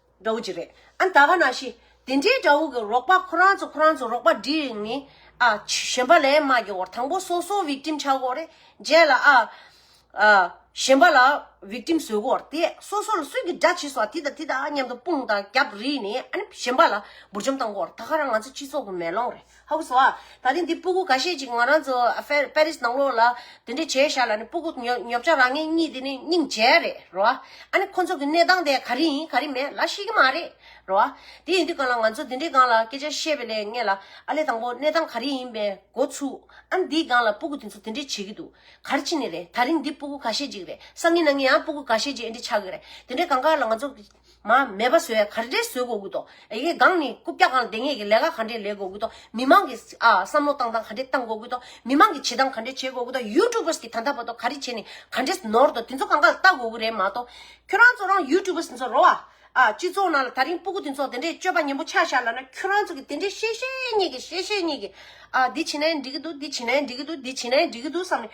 དགྲ་བོ་ཅི་རེད་ཨ་ད་ག་ན་ཤི། དེ་འདྲའི་དགྲ་བོ་གི་རོགས་པ་ཁོ་རང་ཚོ་ཁོ་རང་ཚོ་རོགས་པ་འདྲི་རིགས་ནི་ཨ། གཞན་པ་ལས་མ་དགེ་བར་དང་པོ་སོ་སོ Victim ཆགས་དགོས་རེད་རྗེས་ལ་ཨ། གཞན་པ་ལ Victim བཟོས་དགོས་རེད་དེ་སོ་སོ་ལ་སུས་ཀྱི་དགྲ་བྱས་སོང་དེ་དང་དེ་དང་མཉམ་དུ་དཔུང་དང་རྒྱབ་རིས་ནི་ཨ་ནི་གཞན་པ་ལ་འབུར་འཇོམས་གཏང་དགོས་རེད་ད་ཁ་རང་ང་ཚོ་སྤྱི་ཚོགས་ཀྱི་མེ་ལོང་རེད། ཧཱུྃ་བྷྱོ། ད་རིང་འདི་སྤུ་གུ་ག་ཤེད་ཅིག་ང་རང་ཚོ་པེ་རིས་ནང་ལོགས་ལ་འདི་འདྲས་བྱས་བཞག་ལ་ནི་སྤུ་གུ་ཉོབ་བྱ་རང་ངེད་གཉིས་འདི་ནི་སྙིང་རྗེ་རེད་རོ། ཨ་ནི་ཁོ་ཚོ་གི་གནས་སྟངས་དེ་ག་རེ་ཡིན་ག་རེ་མེད་ལ་ཤེས་ཀྱི་མ་རེད་རོ། དེ་ཡིན་དུས་གང་ལ་ང་ཚོ་འདི་འདྲའི་སྒང་ལ་སྐད་ཆ་བཤད་པའི་ལས་ངེད་ལ་ཨ་ལས་དང་པོ་གནས་སྟངས་ག་རེ་ཡིན་པའི་འགོ་ཚུགས། ཨ་ནི་འདིའི་སྒང་ལ་སྤུ་གུ་དེ་ཚོ་འདི་འདྲས་བྱེད་ཀྱི་འདུག་ག་རེ་བྱེད་ནི་རེད་ད་རིང་འདི་སྤུ་གུ་ག་ཤེད་ཅིག་རེད་བསམ་ཡིན་ན་ངེད་ཡང་སྤུ་གུ་ག་ཤེད་ཅིག་འདྲས་ཆགས་ཀྱི་རེད་དེ་འདྲའི་སྒང་ཁག་ལ་ང་ཚོ། མ་མེད་པ་བཟོས་ག་རེ་བཟོས་དགོས་དགོས་དོ་ཨེ་ཡེ་སྒང་ནི་རྐུབ་བཀྱག་གང་དེ་ངེས་ཀྱི་ལས་ཀ་ག་འདྲེ་ལས་དགོས་དགོས་དོ་མི་མང་གི་ཨ་བསམ་བློ་བཏང་སྟངས་ག་འདྲེ་བཏང་དགོས་དགོས་དོ་མི་མང་གི་བྱེད་སྟངས་ག་འདྲེ་བྱེད་དགོས་དགོས་དོ་ཡུ་ཏུ་བུས་ཀྱི་ད་ད་བ་དོ་ག་རེ་བྱེད་ནི་ག་འདྲེ་ནོར་དོ་དེ་ཚོ་གང་ག་ལ་བལྟ་དགོས་དགོས་རེད་མ་གཏོགས་ཁྱོད་རང་ཚོ་རང་ཡུ་ཏུ་བུ་ཟིན་ཚོ་རོ་ཨ་སྤྱི་ཚོགས་ནང་ལ་ད་རིང་སྤུ་གུ་དེ་ཚོ་དེ་འདྲེ་སྤྱོད་པ་ཉན་པོ་ཆགས་ཤག་ལ་ན་ཁྱོད་རང་ཚོ་གི་དེ་འདྲེ་བཤད་བཤད་ཉེས་ཀྱི་བཤད་བཤད་ཉེས་ཀྱི་ཨ་འདི་བྱེད་ན་ཡང་འགྲིག་གི་འདུག་འདི་བྱེད་ན་ཡང་འགྲིག་གི་འདུག་འདི་བྱེད་ན་ཡང་འགྲིག་གི་འདུག་བསམ་ནས་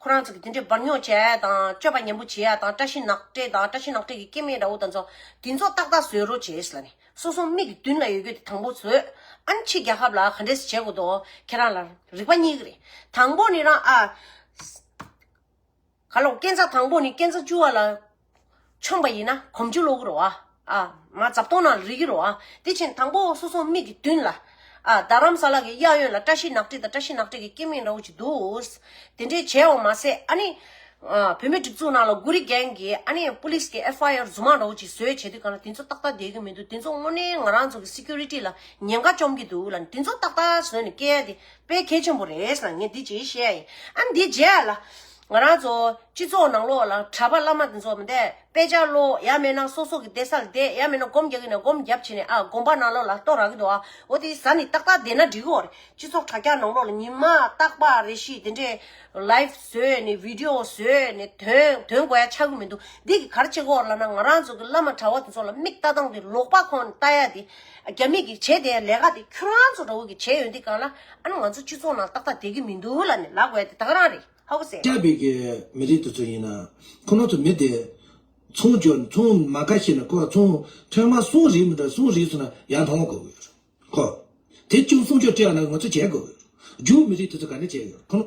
ཁོ་རང་ཚོ་གི་དེ་འདྲའི་འབར་ཉོག་བྱས་ཡ་དང་སྤྱོད་པ་ཉམས་པོ་བྱས་ཡ་དང་བཀྲ་ཤིས་ནག་ཏྲེ་དང་བཀྲ་ཤིས་ནག་ཏྲེ་གི་སྐྱེ་དམན་འདྲ་བོ་དང་ཚོ་དེ་ཚོ་ཏག་ཏག་བཟོས་རོགས་བྱས་ལ་ནི་སོ་སོ་མིག་གི་མདུན་ལ་ཡོད་རྒྱུ་དེ་དང་པོ་བཟོས་ཨ་མཆིས་རྒྱ་ཁབ་ལ་ག་འདྲས་སུ་བྱེད་དགོས་དོ་ཁྱེད་རང་ལ་རིག་པ་གཉིས་ཀ་རེད་དང་པོ་ནི་རང་ཨ་ག་ལོག་སྐྱེ་མཚམས་དང་པོ་ནི་སྐྱེ་མཚམས་བཅུ་བ་ལ་ཆོམས་པ་ཡིན་ན་གོམ་ཆུ་སློག་གི་རོ། མར་འཛབ་སྟོང་ནང་ལ་རིལ་གྱི་རོ། དེ་བཞིན་དང་པོ་སོ་སོའི་མིག་གི་མདུན་ལ། རྡ་རམ་ས་ལ་གྱི་གཡས་གཡོན་ལ་བཀྲ་ཤིས་ནག་དྲེག་དང་བཀྲ་ཤིས་ནག་དྲེག་གི་སྐྱེས་མིང་འདྲ་བོ་ཅིག་འདུག། དེ་འདྲས་བྱས་བ་མ་ཟད་ཨ་ནི། བུད་མེད་སྒྲིག་འཛུགས་ནང་ལ་དགུ་རིག་རྒན་གྱི་ཨ་ནི་པུ་ལིས་ཀྱི་ཨེ་ཧྥ་ཡ་ར་རྫུན་མ་འདྲ་བོ་ཅིག་བཟོས་བྱས་དུས་གང་ལ་དེ་ཚོ་ཏག་ཏག་བསྡད་ཀྱི་མི་འདུག་དེ་ཚོ་དངོས་གནས་ང་རང་ཚོ་གི Security ལ་ཉེན་ཁ་བཅོམ་གྱི་འདུག་ལ་དེ་ཚོ་ཏག་ཏག་བཟོས་ནས་བསྐྱལ་ཡ་དེ་དཔེ་གལ་ཆེན་པོ་རེད་ལ་ངས་འདི་རྗེས་བཤད་ཡ་ཡིན་ཨ་ནི་འདི་རྗེས་ལ། ང་རང་ཚོ་སྤྱི་ཚོགས་ནང་ལོགས་ལ་གྲྭ་པ་བླ་མ་དེ་ཚོ་མི་འདེད་དཔེ་ཆ་ཀློག་ཡག་མེད་ན་སོ་སོ་གི་བསྡད་ས་ལ་བསྡད་ཡག་མེད་ན་སྒོམ་རྒྱག་གི་ན་སྒོམ་རྒྱབ་བྱས་ནས་ཨ་སྒོམ་པ་ནང་ལོགས་ལ་གཏོགས་རག་གི་འདུག་ཨ་འོ་དེ་ཟ་ནི་ཏག་ཏག་བསྡད་ན་འགྲིག་གི་འོ་རེད་སྤྱི་ཚོགས་དྲ་རྒྱ་ནང་ལོགས་ལ་ཉིན་མ་རྟག་པ་རེ་ཤིག་དེ་འདྲས Live བཟོས་ནས Video བཟོས་ནས་དོན་དོན་གོ་ཡ་ཆག་གི་མི་འདུག་འདི་གི་གར་བྱེད་གོ་ར་ལ་ན་ང་རང་ཚོ་གི་བླ་མ་གྲྭ་བ་དེ་ཚོ་ལ་མིག་ལྟ་སྟངས་དེ་ལོག་པ་ཁོང་ལྟ་ཡ་དེ་རྒྱ་མིས་ཀྱིས་བྱས་དེའི་ལས་ཀ་དེ་ཁྱོད་རང་ཚོ་འདྲ་བོ་ཀྱིས་བྱས་ཡོད་འདི་གང་ལ་ཨ་ནི་ང་ཚོ་སྤྱི་ཚོགས་ནང་ཏག་ཏག་དེ་གི་མི་འདུག་ལ་ནི་ལག་བས་དེ་དག་རང་རེད་ཧ་གོ་སྲིད། སྐྱ་བྷེ་ཀི་མི་རིགས་དེ་ཚོ་ཡིན་ན་ཁོ་ནོ་ཚོ་མི་དེ། ཚོང་འཇོག་ཚོང་མ་ཁ་ཤེས་ན་ཁོ་ར་ཚོང་ཁྲེང་མ་སོང་རིགས་མི་འདྲ་སོང་རིགས་སོང་ན་ཡར་ལྷོང་དགོས་ཀྱི་ཡོད་ཁོ། དེ་ཅུང་སོང་ཆོག་སྤྲད་ཡོང་ན་ང་ཚོ་བྱས་དགོས་ཀྱི་ཡོད་རྒྱུ་མི་རིགས་དེ་ཚོ་ག་འདྲ་བྱས་ཡོད་ཁོ་ནོ།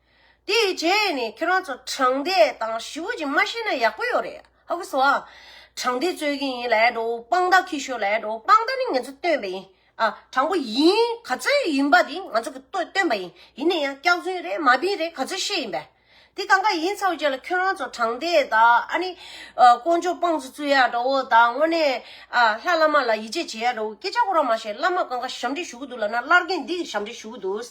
དེའི་རྗེས་ནས་ཁྱེད་རང་ཚོ་དྲང་བདེན་དང་ཞི་བོ་ཅིག་མ་བཤད་ན་ཡག་པོ་ཡོད་རེད་ཧ་གོ་སོ་ཨ། དྲང་བདེན་རྩོད་ཀྱི་ཡིན་ལེགས་འགྲོ་དཔང་རྟགས་ཁྱེར་ཤོག་ལེགས་འགྲོ་དཔང་རྟགས་ནི་ངེད་ཚོ་སྟོན་པ་ཡིན་ཨ། དྲང་པོ་ཡིན་ག་ཚོད་ཡིན་པ་དེ་ང་ཚོ་གི་སྟོན་པ་ཡིན་ཡིན་ན་ཡང་སྐྱག་རྫུན་རེད་མ་པིན་རེད་ག་ཚོད་བཤད་ཡིན་པ། དེ་གང་ག་ཡིན་ཚ་བོ་བྱས་ལ་ཁྱོད་རང་ཚོ་དྲང་བདེན་དང་ཨ་ནི། དཀོན་མཆོག་དཔང་ཚོ་རྩོད་ཡག་འདྲ་བོ་དང་དངོས་གནས་ཨ་ལྷ་བླ་མ་ལ་ཡིད་ཆེས་བྱེད་ཡག་འདྲ་བོ་སྐད་ཆ་གོ་ར་མ་བཤད་བླ་མ་གང་ག་ཞབས་འདྲེན་ཞུ་གི་འདུག་ལབ་ན་ལར་རྒན་འདི་གི་ཞབས་འདྲེན་ཞུ་གི་འདུག།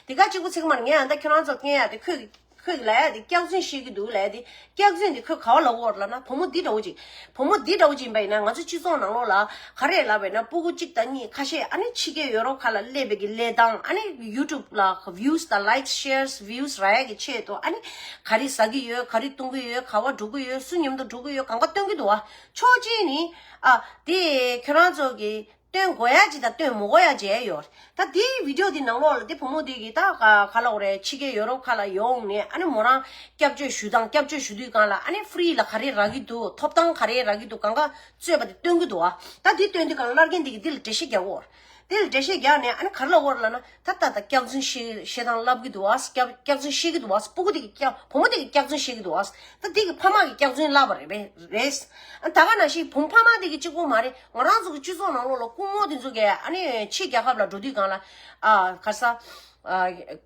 དེ་ག་གཅིག་པུ་ཚིག་མར་ངས་ཨ་མདའ་ཁྱོད་རང་ཚོར་བསྟན་ཡ་དེ་ཁོས་ཁོས་ལ་ཡ་དེ་སྐྱག་རྫུན་བཤད་ཀྱི་འདུག་ལ་ཡ་དེ་སྐྱག་རྫུན་དེ་ཁོས་ག་བ་ལ་བོར་ལ་ན་བུ་མོ་འདི་འདྲ་བོ་ཅིག་བུ་མོ་འདི་འདྲ་བོ་ཅིག་ཡིན་པ་ཡིན་ན་ང་ཚོ་སྤྱི་ཚོགས་ནང་ལོགས་ལ་ག་རེ་ལབ་པའི་ན་སྤུ་གུ་གཅིག་དང་གཉིས་ཁ་ཤས་ཨ་ནི་ཕྱི་རྒྱལ་ཡོ་རོབ་ཁ་ལ་སླེབས་པའི་གི་ལས་དང་ཨ་ནི YouTube ལ Views དང Likes Shares Views ར་ཡ་གི་ཆེད་དུ་ཨ་ནི་ག་རེ་ཟ་གི་ཡོད་ག་རེ་བཏུང་གི་ཡོད་ག་བ་སྒྲུག་གི་ཡོད་བསུ་མཉམ་དུ་སྒྲུག་གི་ཡོད་གང་ག་སྟོན་གྱི་འདུག་ཨ་ཆོག་མཆན་ནི་ཨ་དེ་ཁྱོད་རང་ཚོ་གི། སྟོན་མགོ་ཡ་ཅི་དང་སྟོན་མོ་མགོ་ཡ་ཇེ་ཡོ་རེད་ད་དེ་བིདེའོ་དེ་ནང་ལོག་ལ་དེ་བུ་མོ་དེ་གི་ད་ག་ལོག་རེད་ཕྱི་རྒྱལ་ཡོ་རོབ་ཁ་ལ་ཡོང་ནས་ཨ་ནི་མོ་རང་སྐྱབས་བཅོལ་ཞུ་སྟངས་སྐྱབས་བཅོལ་ཞུ་དུས་གང་ལ་ཨ་ནི Free ལ་ག་རེ་རག་གི་འདུག་ཐོབ་ཐང་ག་རེ་རག་གི་འདུག་གང་ག་རྩོད་པ་དེ་སྟོན་གི་འདུག་ཨ་ད་དེ་སྟོན་དུས་གང་ལ་ལར་རྒན་དེ་གི་དེ་ལ་འགྲེལ་བཤད་རྒྱག་དགོས་རེད་དེ་ལ་འགྲེལ་བཤད་རྒྱག་ནས་ཨ་ནི་ག་རེ་ལ་དབོར་ལ་ན་ད་ལྟ་ད་སྐྱག་རྫུན་བཤད་བཤད་སྟངས་ལབ་གི་འདུག་ཨཱ་སྐྱག་སྐྱག་རྫུན་བཤད་གི་འདུག་ཨཱ་སྤུ་གུ་དེ་གི་སྐྱག་བུ་མོ་དེ་གི་སྐྱག་རྫུན་བཤད་གི་འདུག་ཨཱ་ད་དེ་གི་ཕ་མ་གི་སྐྱག་རྫུན་ལབ་པ་རེད་པས་རེད། ཨ་ད་ག་ནང་བཞིན་བུམ་ཕ་མ་དེ་གི་གཅིག་པོ་མ་རེད་ང་རང་ཚོ་གི་སྤྱི་ཚོགས་ནང་ལོགས་ལ་སྐུ་ངོ་དེ་ཚོ་གས་ཨ་ནི་ཕྱི་རྒྱལ་ཁབ་ལ་འགྲོ་དུས་གང་ལ་ཨ་ག་ས།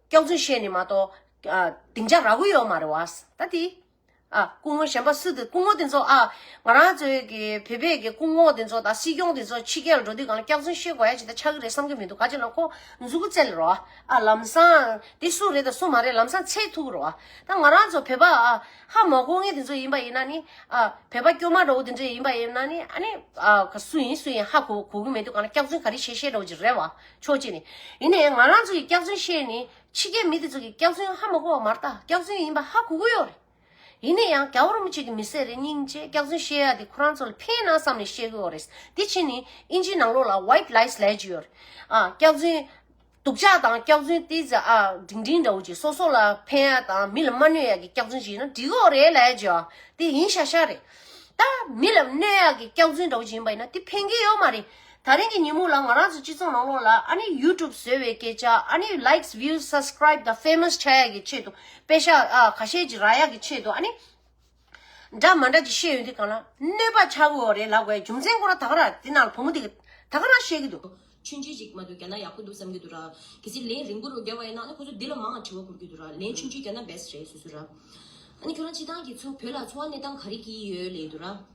སྐྱག་རྫུན་བཤད་ནི་མ་གཏོགས་ཨ་སྡིངས་ཆ་རག་གི་ཡོད་མ་རེད་ཨཱ་ད་དེ། ཨ། སྐུ་ངོ་གཞན་པ་སུ་དེ་སྐུ་ངོ་དེ་ཚོ་ཨ། ང་རང་ཚོའི་གི་བོད་པའི་གི་སྐུ་ངོ་དེ་ཚོ་དང་སྲིད་སྐྱོང་དེ་ཚོ་ཕྱི་རྒྱལ་ལ་འགྲོ་དུས་གང་ལ་སྐྱག་རྫུན་བཤད་དགོས་ཡ་ཇི་ལྟར་ཆགས་ཀྱི་རེད་བསམ་གྱི་མི་འདུག་ག་ཅིག་ལ་ཁོ་མཛུ་གུ་བཙལ་རོགས་ཨ། ཨ་ལམ་སང། དེ་སུ་རེད་དང་སུ་མ་རེད་ལམ་སང་ཚད་ཐུག་རོགས་ཨ། ད་ང་རང་ཚོ་བོད་པ་ཨ། ཧ་མ་གོ་ངེས་དེ་ཚོ་ཡིན་པ་ཡིན་ན་ནི་ཨ། བོད་པ་སྐྱོ་མ་འདྲ་བོ་དེ་ཚོ་ཡིན་པ་ཡིན་ན་ནི་ཨ་ནི་ཨ། སུ་ཡིན་སུ་ཡིན་ཧ་གོ་གོ་གི་མི་འདུག་གང་ལ་སྐྱག་རྫུན་ག་རེ་བཤད་བཤད་རོགས་ཇི་རེད་བ། ཆོག་ཅེས་ནི། ཡིན་ནའི་ང་རང་ཚོ་ཡི་སྐྱག་རྫུན་བཤད་ནི་ཕྱི་རྒྱལ་མི་དེ་ཚོ་གི་སྐྱག་རྫུན་ཧ་མ་གོ་བ་མ་རྟགས་སྐྱག་རྫུན་ཡིན་པ་ཧ་གོ་གི་ཡོད་རེད། ཡིན་ནས་ཡང་ག་བོར་མོ་གཅིག་གི་མི་སེར་རེ་སྙིང་རྗེ་སྐྱག་རྫུན་བཤད་ཡ་དེ་ཁོ་རང་ཚོ་ལ་ཕན་ནང་བསམ་ནས་བཤད་གི་ཡོད་རེད། དེ་ཕྱིན་ནི་ཨིན་ཇིའི་ནང་ལོགས་ལ White Lies ལས་ཀྱི་ཡོད་རེད། ཨ་སྐྱག་རྫུན། སྡུག་ཅག་དང་སྐྱག་རྫུན་ལྟས་ཙི་ཨ་འབྲིང་འབྲིང་འདྲ་བོ་གྱིས་སོ་སོ་ལ་ཕན་ཡ་དང་མི་ལ་མ་གནོད་ཡ་གི་སྐྱག་རྫུན་བྱིན་ན་འགྲིག་གི་ཡོད་རེད་ལས་ཀྱི། དེ་ཡིན་ཤག་ཤག་རེད། ད་མི་ལ་གནོད་ཡ་གི་སྐྱག་རྫུན་འདྲ་བོ་བྱིན་པ་ཡིན་ན་དེ་ཕན་གི་ཡོད་མ་རེད། ད་རིང་གི་ཉིན་མོ་ལ་ང་རང་ཚོ་སྤྱི་ཚོགས་ནང་ལོགས་ལ་ཨ་ནེའི YouTube བཟོས་བའི་སྐད་ཆ་ཨ་ནེའི Likes Views Subscribe དང Famous བྱ་ཡག་གི་ཆེད་དུ་དཔེ་ཤ་ཨ་ཁ་ཤས་ཀྱི་རག་ཡག་གི་ཆེད་དུ་ཨ་ནེ། འདྲ་མ་འདྲ་ཅིག་བཤད་ཡོད་འདི་གང་ལ་གནོད་པ་ཆགས་འོས་བ་རེད་ལབ་དགའི་རྒྱུ་མཚན་སྐོར་ར་ད་ག་ར་དེ་ནང་ལ་བུ་མོ་དེ་ག་ད་ག་ར་བཤད་ཀྱི་འདུག། མཆོད་མཇལ་ཞིག་མ་འདུག་གྱ་ན་ཡག་པོ་འདུག་བསམ་གྱི་འདུག་ར། གལ་སྲིད་ལན་རིང་པོ་རུ་རྒྱབ་བ་ཡིན་ན་ཨ་ནེ་ཁོ་ཚོ་འདི་ལ་མང་ང་དྲི་བ་འཁུར་གྱི་འདུག་ར་ལན་མཆོད་མཇལ་གྱ་ན best རེད་སུ་སུ་ར། ཨ་ནེ་ཁྱོད་རང་སྤྱི་སྟངས་ཀྱི་ཚོ་བོད་ལ་འཚོ་བ་གནས་སྟངས་ག་རེ་གྱིས་ཡོད་ལེ་འདུག་ར།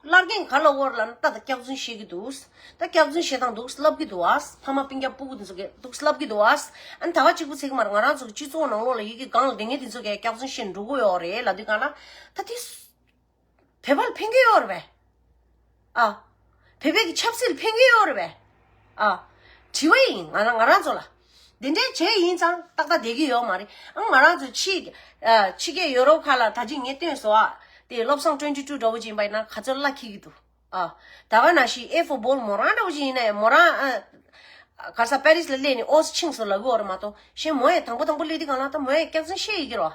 སླར་རྒན་ག་ལ་བོར་ལ་ན་ད་ད་སྐྱག་རྫུན་བཤད་ཀྱི་འདུག་ད་སྐྱག་རྫུན་བཤད་སྟངས་འདུག་ལབ་ཀྱི་འདུག་ཨ་ཕ་མ་པིང་སྐྱག་སྤུ་གུ་འདི་ཚོ་གས་འདུག་ལབ་ཀྱི་འདུག་ཨ་ཨ་ད་ག་གཅིག་པུ་ཚེག་མར་ང་རང་ཚོ་གི་སྤྱི་ཚོགས་ནང་ལོག་ལ་ཡི་གི་སྒང་ལ་དེ་ངས་འདི་ཚོ་གས་སྐྱག་རྫུན་བཤད་འགྲོ་གི་ཡོག་རེད་ལ་དུས་གང་ལ་ད་དེ་བོད་པ་ལ་ཕན་གྱི་ཡོག་རེད་པས་ཨ་བོད་པའི་གི་ཆབ་སྲིད་ལ་ཕན་གྱི་ཡོག་རེད་པས་ཨ་དྲི་བ་ཡིན་ང་རང་ཚོ་ལ་འདི་འདྲའི་བྱས་ཡིན་ཙང་ཏག་ཏག་བསྡད་ཀྱི་ཡོད་མ་རེད་ཨང། ང་རང་ཚོ་ཕྱི་རྒྱལ་ཡོ་རོབ་ཁག་ལ་ད་ཅི་ངེས་སྟོན་སོགས་དེ་བློ་བཟང་སྤྲོན་བཅུ་དྲུག་འདྲ་བོ་ཅིག་ཡིན་པ་ཡིན་ན་ག་ཚོད་གླ་འཁེལ་གྱི་འདུག་ཨ། ད་ག་ན་ཞིག་ཨེ་ཧྥོ་སྦོལ་མོ་རང་འདྲ་བོ་ཅིག་ཡིན་ན་ཡང་མོ་རང་ཨ། ག་ས་པེ་རིས་ལ་སླེབས་ནས་ཨོ་སི་ཆིངས་སུ་ལ་གུ་འོ་རེ་མ་གཏོགས་གཞན་མོ་ཡང་དང་པོ་དང་པོ་སླེབས་དུས་གང་ལ་ཐོབ་མོ་ཡང་སྐྱག་རྫུན་བཤད་ཡོད་ཀྱི་རོ།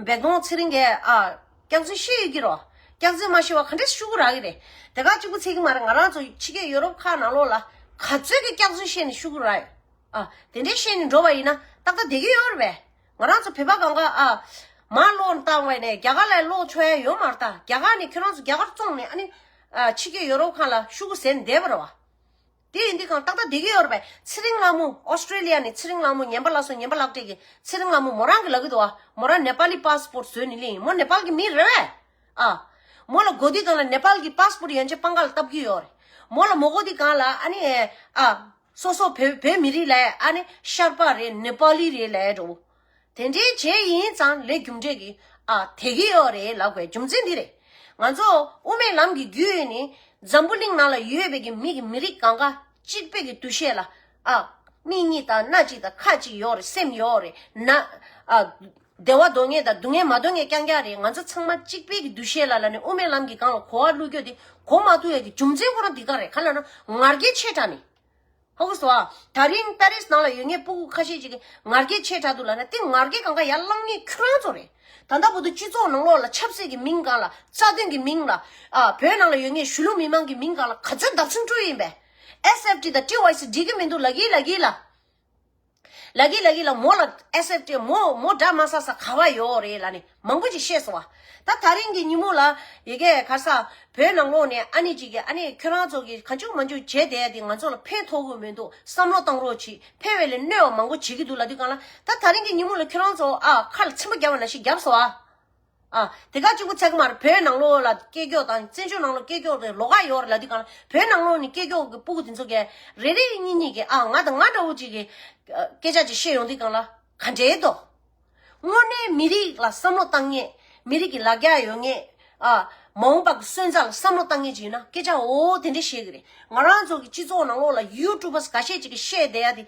འབད་གཏོང་ཚེ་རིང་གས་ཨ། སྐྱག་རྫུན་བཤད་ཡོད་ཀྱི་རོ། སྐྱག་རྫུན་མ་བཤད་བར་ག་འདྲས་ཤུ་གུ་རག་གི་རེད། དེ་ག་གཅིག་པུ་ཚད་ཀྱི་མ་རེད་ང་རང་ཚོ་ཕྱི་རྒྱལ་ཡོ་རོབ་ཁག་ནང་ལོགས་ལ་ག་ཚོད་ཀྱི་སྐྱག་རྫུན་བཤད་ནས་ཤུ་གུ་རག་ཡོད། ཨ། དེ་འདྲའི་ཤེས་ནས་འགྲོ་བ་ཡིན་ན་ཏག་ཏག་བསྡད་ཀྱི་ཡོད་རེད་པས། ང་རང་ཚོ་བོད་པ་གང་ག་ཨ། མར་བློ་བཏང་བས་ནས་རྒྱ་གར་ལ་བློ་འཚོལ་ཡ་ཡོད་མ་རེད་ད། རྒྱ་གར་ནས་ཁྱོད་རང་ཚོ་རྒྱ་གར་བཙོང་ནས་ཨ་ནི། ཕྱི་རྒྱལ་ཡོ་རོབ་ཁང་ལ་ཤུ་གུ་ཟེར་ནས་བསྡད་པ་རེད་བ། དེ་ཡིན་དུས་གང་ཏག་ཏག་བསྡད་ཀྱི་ཡོད་རེད་པས་ཚེ་རིང་ལྷ་མོ Australia ནས་ཚེ་རིང་ལྷ་མོ་ཉན་པ་ལགས་སོ་ཉན་པ་ལགས་བཀྲས་ཀྱི་ཚེ་རིང་ལྷ་མོ་མོ་རང་གི་ལག་གི་དུ་བ་མོ་རང Nepali passport བཟོས་ནས་གླིང་ཡིན་མོ Nepal གི་མི་རེད་བས། ཨ། མོ་ལ་དགོས་དུས་གང་ལ Nepal གི passport ཡན་ཆད་པང་ཁ་ལ་བཏབ་ཀྱི་ཡོད་རེད། མོ་ལ་མོ་དགོས་དུས་གང་ལ་ཨ་ནི། ཨ། སོ་སོ་བོད་བོད་མི་རིགས་ལ་ཨ་ནི་ཤར་པ་རེད་ནི་པཱ་ལི་རེད་ལད་འགྲོ། དེ་འདྲའི་བྱས་ཡིན་ཙང་ལས་རྒྱུ་འབྲས་ཀྱི་ཨ་དེ་གི་ཡོད་རེད་ལབ་དགོས་རྒྱུ་མཚན་འདི་རེད། ང་ཚོ་དབུ་མའི་ལམ་གྱི་རྒྱུད་ནི་འཛམ་བུ་གླིང་ནང་ལ་ཡོད་པའི་གི་མི་གི་མི་རིགས་གང་ག་གཅིག་པའི་གི་འདུ་ཤེས་ལ་ཨ་མིག་གཉིས་དང་སྣ་གཅིག་དང་ཁ་གཅིག་ཡོད་རེད་སེམས་ཡོད་རེད་ན་ཨ། བདེ་བ་འདོད་ངེས་དང་སྡུག་བསྔལ་མ་འདོད་ངེས་རྐྱང་རྐྱང་རེད་ང་ཚོ་ཚང་མ་གཅིག་དཔེ་གི་འདུ་ཤེས་ལ་ལ་ནི་དབུ་མའི་ལམ་གྱི་སྒང་ལ་གོ་བ་བླུག་རྒྱུ་དེ་གོ་མ་ཐུབ་ཡ་གི་རྒྱུ་མཚན་ཁོ་རང་འདི་ག་རེད་ག་ལ་ན་ངར་སྐད་ཆེ་དྲག་ནི། ཧོ་གིས་བ། ད་རིང་པ་རིས་ནང་ལ་ཡོད་ངེས་སྤུ་གུ་ཁ་ཤས་ཅིག་གི་ངར་སྐད་ཆེ་དྲག་འདུག་ལ་ན་དེ་ངར་སྐད་གང་ག་ཡ་བླངས་ངེས་ཁྱོད་རང་ཚོ་རེད། ད་ལྟ་བུ་དུ་སྤྱི་ཚོགས་ནང་ལོག་ལ་ཆབ་སྲིད་གི་མིང་གང་ལ་རྩ་དོན་གི་མིང་ལ། ཨ་བོད་ནང་ལ་ཡོད་ངེས་གཞུ་ལུགས་མི་མང་གི་མིང་གང་ལ་ག་ཚོད་འདབ་ཆུང་བཀྲུ་ཡིན་པས། SFT དང TYC འགྲིག་གི་མི་འདུག་ལ་གིས་ལ་གིས་ལ། ལ་གི་ལ་གི་ལ་མོ་ལ་ཨེ་སེབ་ཏེ་མོ་མོ་འདྲ་མ་ས་ས་ག་བ་ཡོའོ་རེད་ལ་ནི་མང་པོ་ཅིག་ཤེས་སོང་བ་ད་ད་རིང་གི་ཉིན་མོ་ལ་ཡི་གེ་ག་ས་བོད་ནང་ལོག་ནས་ཨ་ནི་ཅིག་གི་ཨ་ནི་ཁྱོད་རང་ཚོ་གི་ག་འཇུག་མ་འཇུག་བྱས་བསྡད་དེ་ང་ཚོ་ལ་ཕན་ཐོག་གི་མི་འདུག་བསམ་བློ་བཏང་རོགས་གྱིས་ཕལ་བའི་ལས་གནོད་བ་མང་པོ་བྱེད་ཀྱི་འདུག་ལ་དུས་གང་ལ་ད་ད་རིང་གི་ཉིན་མོ་ལ་ཁྱོད་རང་ཚོ་ཨ་ཁ་ལ་ཚིམ་པ་རྒྱབ་བ་ན་ཞིག་རྒྱབ་སོང་བ། དེ་ག་གཅིག་པུ་ཚད་མར་བོད་ནང་ལོགས་ལ་སྐད་སྐྱོགས་དང་བཙན་བྱོལ་ནང་ལོགས་སྐད་སྐྱོགས་རེད་ལོ་ག་ཡོད་ལ་དེ་ག་བོད་ནང་ལོགས་ནས་སྐད་སྐྱོགས་ཀྱི་སྤུ་གུ་དེ་ཚོ་ག་རེ་རེ་གཉིས་གཉིས་ཀྱི་ཨ་ང་དང་ང་འདྲ་བོ་གཅིག་གི་སྐད་ཆ་གཅིག་བཤད་ཡོང་དེ་ག་ལ་ག་འབྲེལ་དོ། དངོས་གནས་མི་རིགས་ལ་བསམ་བློ་བཏང་ངེས་མི་རིགས་ཀྱི་ལ་རྒྱ་ཡོད་ངེས་ཨ། མ་འོངས་པ་གི་སོན་རྩ་ལ་བསམ་བློ་བཏང་ངེས་ཅིག་ཡིན་ན་སྐད་ཆ་འོ་དེ་འདྲ་བཤད་གི་རེད་ང་རང་ཚོ་གི་སྤྱི་ཚོགས་ནང་ལོགས་ལ་ཡུ་ཀྲུ་བ་ག་ཤེད་ཅིག་གི་བཤད་བསྡད་ཡ་དེ།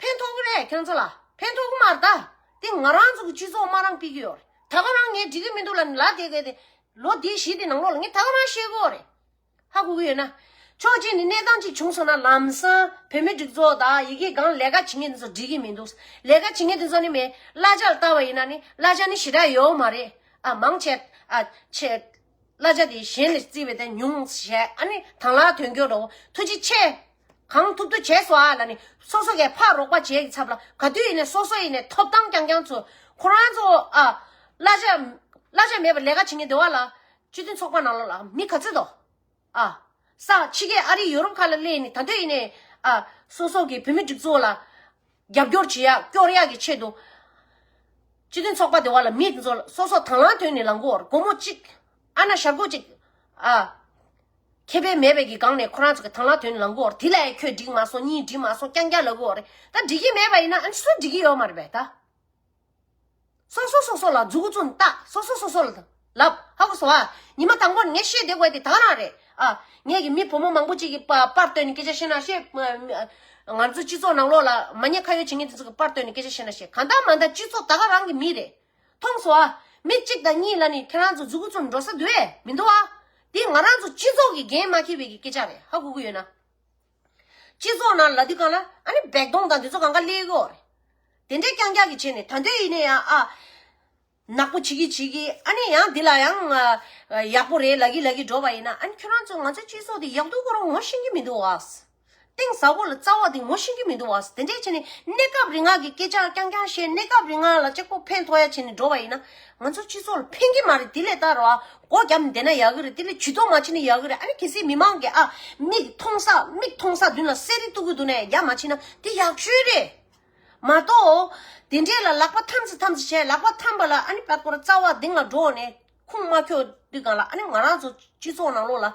ཕན་ཐོགས་གི་རེད་ཁྱོད་ཚོ་ལ་ཕན་ཐོགས་གི་མ་རེད་ད་དེ་ང་རང་ཚོ་གི་སྤྱི་ཚོགས་དམའ་རང་སྤིག་གི་ཡོད་རེད་ད་ག་རང་ངས་འགྲིག་གི་མི་འདུག་ལ་ལ་དེ་དགོས་དེ་ལོ་དེ་བཞི་དེ་ནང་ལོགས་ལ་ངས་ད་ག་རང་ཤེས་གི་ཡོད་རེད་ཧ་གོ་གི་ཡོད་ན། ཆོག་རྗེས་ནས་གནས་སྟངས་གཅིག་བྱུང་སོང་ན་ལམ་སང་བོད་མི་སྒྲིག་འཛོགས་དང་ཡི་གེ་གང་ལས་ཀ་བྱེད་མཁན་དེ་ཚོ་འགྲིག་གི་མི་འདུག་ལས་ཀ་བྱེད་མཁན་དེ་ཚོ་ནི་མེད་བླ་བྱ་ལ་བལྟ་བ་ཡིན་ན་ནི་བླ་བྱ་ནི་ཞེ་དྲག་ཡོད་མ་རེད་ཨ་མང་ཆད་ཨ་ཆད། བླ་བྱ་དེ་གཞན་ནས་བརྩི་བའི་དེ་ཉུང་བཤད་ཨ་ནི་དང་ལ་དོན་འཁྱོལ་འགྲོ་ཐུགས་རྗེ་ཆེ། གང་ཐུབ་ཐུབ་བྱས་སོ་ཨ་ལ་ནི་སོ་སོ་གས་ཕར་རོགས་པ་བྱས་ཀྱི་ཚབ་ལ་ག་དུས་ཡིན་ནས་སོ་སོ་ཡིན་ནས་ཐོབ་ཐང་རྐྱང་རྐྱང་ཚོ་ཁོ་རང་ཚོ་ཨ། བླ་བྱ། བླ་བྱ་མེད་པར་ལས་ཀ་བྱེད་ངེས་བདེ་བ་ལ། སྤྱི་མཐུན་ཚོགས་པ་ནང་ལ་ལ་མི་ག་ཚོད་དོ། ཨ། ས། ཕྱི་རྒྱལ་ཨ་རིའི་ཡོ་རོབ་ཁག་ལ་གླེང་ནས་ད་ལྟོས་ཡིན་ནའི། ཨ། སོ་སོ་གི་བུད་མེད་སྒྲིག་འཛུགས་ལ། རྒྱབ་སྐྱོར་བྱེད་ཡག་སྐྱོར་ཡག་གི་ཆེད་དུ། སྤྱི་མཐུན་ཚོགས་པ་དེ་བ་ལ་མིད་འཛོ་སོ་སོ་དང་ལང་དོན་ནི་ལང་གོར་སྒོར་མོ་གཅིག། ཨ་ན་ཞག་གོ་གཅིག། ཨ། ཁེ་ཕན་མེད་པའི་གི་སྒང་ནས་ཁོ་རང་ཚོ་གི་དང་ལང་དོན་ནི་ལང་གོར་དེ་ལས་ཁྱོད་འགྲིག་མ་སོང་གཉིས་འགྲིག་མ་སོང་རྐྱང་རྐྱང་ལ་གོ་རེད་ད་འགྲིག་གི་མེད་པ་ཡིན་ན་ཨ་ནི་སུ་འགྲིག་གི་ཡོད་མ་རེད་པས་ད། སོ་སོ་སོ་སོ་ལ་འཛུག་བཙུན་བལྟ་སོ་སོ་སོ་སོ་ལ་ལབ་ཧ་གོ་སོང་ཨ། ཉི་མ་དང་པོར་ངས་བཤད་བསྡད་དགོས་དེ་དག་རང་རེད་ཨ། ངས་ཀྱི་མི་བུ་མོ་མང་པོ་ཅིག་གི་པར་བཏོན་ནས་སྐད་ཆ་བཤད་ན་བཤད། ང་ཚོའི་སྤྱི་ཚོགས་ནང་ལོགས་ལ་མ་ཉེས་ཁ་ཡོད་བྱེད་མཁན་དེ་ཚོ་གི་པར་བཏོན་ནས་སྐད་ཆ་བཤད་ན་བཤད་གང་ལྟར་མ་འདང་སྤྱི་ཚོགས་ད་ག་རང་གི་མི་རེད། མཐོང་སོང་ཨ། མི་གཅིག་དང་གཉིས་ལ་ནི་ཁྱེད་རང་ཚོ་འཛུག་བཙུན་འགྲོ་ས་འདུག་ཨེ་མི་འདུག་ཨ། དེ་ང་རང་ཚོ་སྤྱི་ཚོགས་ཀྱི་འགན་མ་འཁྱེར་བའི་གི་སྐད་ཆ་རེད་ཧ་གོ་གི་ཡོད་ན། སྤྱི་ཚོགས་ནང་ལ་དུས་གང་ལ་ཨ་ནི་བེག་གདོང་དང་དེ་ཚོ་གང་ག་གླེགས་ཡོད་རེད། དེ་འདྲས་རྐྱང་རྐྱང་གི་བྱས་ནས་ད་འདོད་ཡིན་ནས་ཡང་ཨ། ནག་པོ་བྱེད་ཀྱི་བྱེད་ཀྱི་ཨ་ནི་ཡང་དེ་ལ་ཡང། ཡག་པོ་རེད་ལ་གི་ལ་གི་འགྲོ་བ་ཡིན་ན་ཨ་ནི་ཁྱོད་རང་ཚོས་ང་ཚོའི་སྤྱི་ཚོགས་དེ་ཡག་སྡུག་གོ་རོ་ངོ་ཤེས་ཀྱི་མི་འདུག་བ། གཏིང་ཟབ་བོ་ལ་རྩ་བ་དེ་ངོ་ཤེས་ཀྱི་མི་འདུག་བ་དེ་འདྲས་བྱས་ནས་གནས་སྐབས་རིང་ངག་གི་སྐད་ཆ་རྐྱང་རྐྱང་བཤད་གནས་སྐབས་རིང་ངག་ལ་ལྕེ་ཁོག་འཕེན་ཐོག་ཡ་བྱས་ནས་འགྲོ་བ་ཡིན་ན་ང་ཚོ་སྤྱི་ཚོགས་ལ་ཕན་གྱི་མ་རེད་དེ་ལས་ད་རོ་ཨ་སྒོ་རྒྱབ་བསྡད་ན་ཡག་གི་རེད་དེ་ལས་ཇུས་གཏོགས་མ་བྱས་ན་ཡག་གི་རེད་ཨ་ནི་གལ་སྲིད་མི་མང་གི་ཨ་མིག་མཐོང་ས་མིག་མཐོང་ས་མདུན་ལ་གསལ་རིག་གཏུག་གི་འདུག་ནས་རྒྱབ་མ་ཕྱིན་ན་དེ་ཡག་ཤོས་རེད། མ་གཏོགས། དེ་འདྲས་ལ་ལག་པ་འཐམ་ཚེ་འཐམ་ཚེ་བྱས་ལག་པ་འཐམ་པ་ལ་ཨ་ནི་ཕར་སྐོར་རྩ་བ་གདེང་ལ་སྒྲོག་ནས་ཁུངས་མ་འཁྱོག་དུས་གང་ལ་ཨ་ནི་ང་རང་ཚོ་སྤྱི་ཚོགས་ནང་ལོགས་ལ།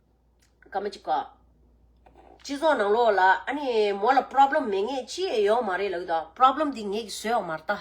ག་མ་ཅི་ག། སྤྱི་ཚོགས་ནང་ལོགས་ལ་ཨ་ནི་མོ་ལ Problem མེད་ངེས་ཅི་ཡས་ཡོག་མ་རེད་ལ་ཨུ་ད Problem དེ་ངེས་ཀྱི་བཟོས་ཡོག་མ་རེད་ད།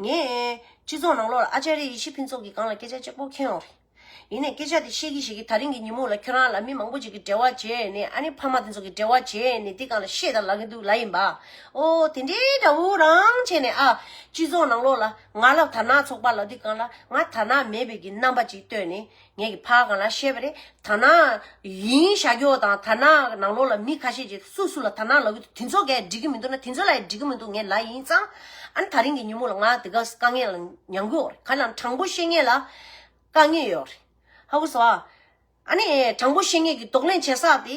ངས་སྤྱི་ཚོགས་ནང་ལོགས་ལ་ཨ་ཅེ་རེ་ཡི་ཤི་ཕིན་ཚོགས་ཀྱི་སྒང་ལ་སྐད་ཆ་གཅིག་པོ་འཁེན་ཡོག་རེད། ཡིན་ནས་སྐད་ཆ་དེ་བཤད་གི་ཤེས་གི་ད་རིང་གི་ཉིན་མོ་ལ་ཁྱོད་རང་ལ་མི་མང་པོ་ཅིག་གི་འབྲེལ་བ་བྱས་ནས་ཨ་ནི་ཕ་མ་དེ་ཚོ་གི་འབྲེལ་བ་བྱས་ནས་དེ་སྒང་ལ་བཤད་དང་ལབ་གི་འདུག་ལ་ཡིན་པ། ཨོ་དེ་འདྲའི་འདྲ་བོ་རང་བྱས་ནས་ཨ། སྤྱི་ཚོགས་ནང་ལོགས་ལ་ང་ལ་དར་ནག་ཚོགས་པ་ལ་དེ་སྒང་ལ་ང་དར་ནག་མེད་པའི་གི་རྣམ་པ་ཅིག་བཏོད་ནས། ངས་ཀྱི་ཕ་གང་ལ་བཤད་པ་རེད་དར་ནག་ཡིན་ཤ་ཀྱོག་དང་དར་ནག་གི་ནང་ལོགས་ལ་མི་ཁ་ཤས་ཀྱིས་སུ་སུ་ལ་དར་ནག་ལབ་ཀྱི་འདུག་དེ་ཚོ་གས་འགྲིག་གི་མི་འདུག་ན་དེ་ཚོ་ལ་ཡང་འགྲིག་གི་མི་འདུག་ངས་ལ་ཡིན་ཙང་ཨ་ནི་ད་རིང་གི་ཉིན་མོ་ལ་ང་དེ་ག་དཀའ་ངལ་ལ་མྱང་གི་འོག་རེད་ག་ལ་དྲང་པོ་བཤད་ངེས་ལ་དཀའ་ངལ་ཡོད་རེད་ཧ་གོ་སོང་ཨ་ནི་དྲང་པོ་བཤད་ངེས་ཀྱི་དོགས་གླེང་བྱེད་ས་དེ།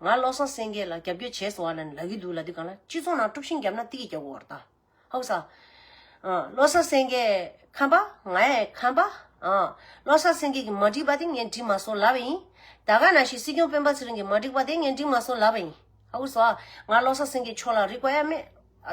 ང་བློ་བཟང་སེང་གེ་ལ་རྒྱབ་སྐྱོར་བྱེད་སོང་བ་ལ་ནི་ལག་གི་འདུག་ལ་དེ་གང་ལ་སྤྱི་ཚོགས་ནང་དཀྲུགས་ཤིང་བརྒྱབ་ན་ཏི་གི་རྒྱབ་འོར་ད། ཧཱུྃ་ས། བློ་བཟང་སེང་གེ། ཁམས་པ། ང་ཡ། ཁམས་པ། བློ་བཟང་སེང་གེ་གི་མ་འགྲིག་པ་དེ་ངས་འགྲིག་མ་སོང་ལབ་པ་ཡིན། ད་ག་ན་ཞིག་སྲིད་སྐྱོང་སྤེན་པ་ཚེ་རིང་གི་མ་འགྲིག་པ་དེ་ངས་འགྲིག་མ་སོང་ལབ་པ་ཡིན། ཧཱུྃ་ས། ང་བློ་བཟང་སེང་གེ་མཆོག་ལ་རིག་པ་ཡ་མེད།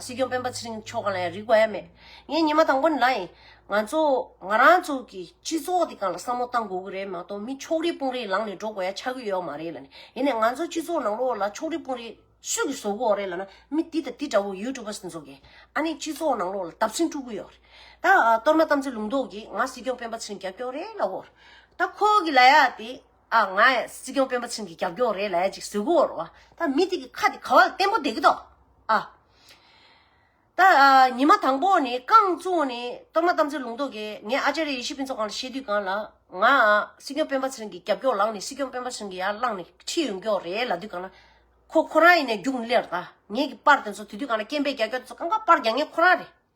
སྲིད་སྐྱོང་སྤེན་པ་ཚེ་རིང་མཆོག་གང་ལ་ཡང་རིག་པ་ཡང་མེད། ངའི་ཉི་མ་དང་པོ་ནི་ལ་ཡིན། ང་ཚོ་ང་རང་ཚོ་གི་སྤྱི་ཚོགས་དེ་གང་ལ་བསམ་བློ་བཏང་དགོས་ཀྱི་རེད་མ་གཏོགས་མི་ཕྱོགས་རིས་དཔུང་རིས་ལངས་ནས་འགྲོ་དགོས་ཡ་ཆགས་ཀྱི་ཡོད་མ་རེད་ལ་ནི་ཡིན་ནས་ང་ཚོ་སྤྱི་ཚོགས་ནང་ལོགས་ལ་ཕྱོགས་རིས་དཔུང་རིས་སུས་ཀྱི་བཟོ་གོ་རེད་ལ་ན་མི་འདི་དང་འདི་འདྲ་བོ་ཡུ་ཏུ་བ་སུ་འཛོ་གི་ཨ་ནི་སྤྱི་ཚོགས་ནང་ལོགས་ལ་དབ་སྲིན་དཀྲུག་གི་ཡོད་རེད་ད་གཏོར་མ་གཏམ་ཚེ་ལུང་རྟོགས་ཀྱིས་ང་སྲིད་སྐྱོང་སྤེན་པ་ཚེ་རིང་རྒྱབ་སྐྱོར་རེད་ལ་བོར་ད་ཁོ་གི་ལ་ཡ་དེ་ཨ་ང་ཡ་སྲིད་སྐྱོང་སྤེན་པ་ཚིང་གི་རྒྱབ་སྐྱོར་རེད་ལས་ཅིག་ཟོས་གོ་རོ་ཨ་ད་མི་དེ་གི་ཁ་དེ་ག་བ་ལ་བརྟན་པོ་དེ་གི་ཏོ་ཨ། ད་ཨ་ཉི་མ་དང་པོ་ནི་རྐང་བཙུགས་ནི་གཏོར་མ་དམ་ཚིག་ལུང་རྟོགས་ཀྱིས་ངས་ཨ་ཅེ་རེ་ཡེ་ཤེས་ཕུན་ཚོགས་གང་ལ་བཤད་དུས་གང་ལ་ང་ཨ་སྲིད་སྐྱོང་སྤེན་པ་ཚིང་གི་རྒྱབ་སྐྱོར་ལངས་ནི་སྲིད་སྐྱོང་སྤེན་པ་ཚིང་གི་ཡར་བླངས་ནི་ཁྲིད་ཡོང་སྐྱོར་རེད་ལ་དུས་གང་ལ་ཁོ་ཁོ་རང་ཡིན་ནས་རྒྱུགས་མི་ལེར་ད་ངེད་ཀྱི་པར་དེ་ཚོ་དུས་དུས་གང་ལ་སྐྱེན་པའི་རྒྱ་སྐྱོར་དེ་ཚོ་གང་ག་པར་རྒྱག་ངེད་ཁོ་རང་རེད།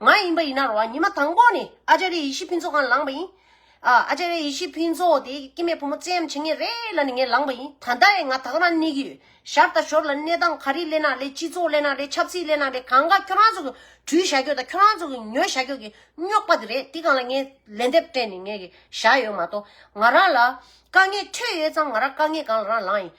ང་ཡིན་པ་ཡིན་ན་རོགས་ཉི་མ་དང་པོ་ནས་ཨ་ཅཱ་རེ་ཡེ་ཤེས་ཕུན་ཚོགས་ཁང་ལངས་པ་ཡིན། ཨ་ཅཱ་རེ་ཡེ་ཤེས་ཕུན་ཚོགས་དེ་སྐྱེད་མེད་བུ་མོ་བཙན་ཡམ་བྱེད་ངེས་རེད་ལ་ནི་ངས་ལངས་པ་ཡིན་ད་ལྟ་ཡང་ང་དག་རང་གནས་ཀྱི་ཡོད་ཞར་དང་ཞོར་ལ་གནས་སྟངས་ག་རེ་གླེང་ན་ལེགས་སྤྱི་ཚོགས་གླེང་ན་ལེགས་ཆབ་སྲིད་གླེང་ན་ལེགས་གང་དགའ་ཁྱོད་རང་ཚོ་གི་དྲུས་བཞག་རྒྱུ་དང་ཁྱོད་རང་ཚོ་གི་ཉོས་བཞག་རྒྱུ་གི་རྙོག་པ་དེ་རེད་དེ་གང་ལ་ངས་ལན་འདེབས་སྤྲད་ནས་ངས་གི་བཞག་ཡོད་མ་གཏོགས་ང་རང་ལ་དཀའ་ངལ་འཕྲད་ཡོད་ཙང་ང་རང་དཀའ་ངལ་གང་ལ་རང་ལངས་ཡིན།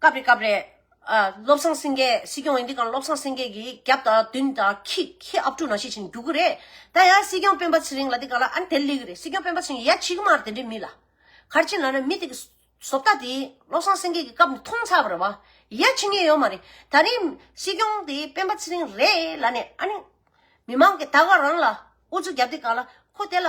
སྐབས་རེ་སྐབས་རེ། བློ་བཟང་སེང་གེ་སྲིད་སྐྱོང་ཡིན་དུས་ཀྱང་བློ་བཟང་སེང་གེ་ཀྱི་རྒྱབ་དང་མདུན་དང་ཁྱི་ཁྱི་ཨབ་ཕྲུག་ནང་བཤད་བྱིན་རྒྱུག་གི་རེད། ད་ཡང་སྲིད་སྐྱོང་སྤེན་པ་ཚེ་རིང་ལ་དེ་ག་ལ་ཨ་ནི་དེ་ལས་གི་རེད་སྲིད་སྐྱོང་སྤེན་པ་ཚེ་རིང་ཡ་ཆིག་མར་དེ་འདྲའི་མི་ལ། གར་ཕྱིན་ལ་ན་མི་དེ་གི་བཟོ་ལྟ་དེ་བློ་བཟང་སེང་གེ་ཀྱི་སྐབས་ནས་མཐོང་ཚར་བ་རེད་བ། ཡ་ཆིག་ངེས་ཡོད་མ་རེད་ད་རིང་སྲིད་སྐྱོང་དེ་སྤེན་པ་ཚེ་རིང་རེད་ལ་ནི་ཨ་ནི། མི་མང་གི་ད་ག་རང་ལ་ཨུ་ཚུགས་རྒྱབ་དེ་ག་ལ་ཁོ་དེ་ལ།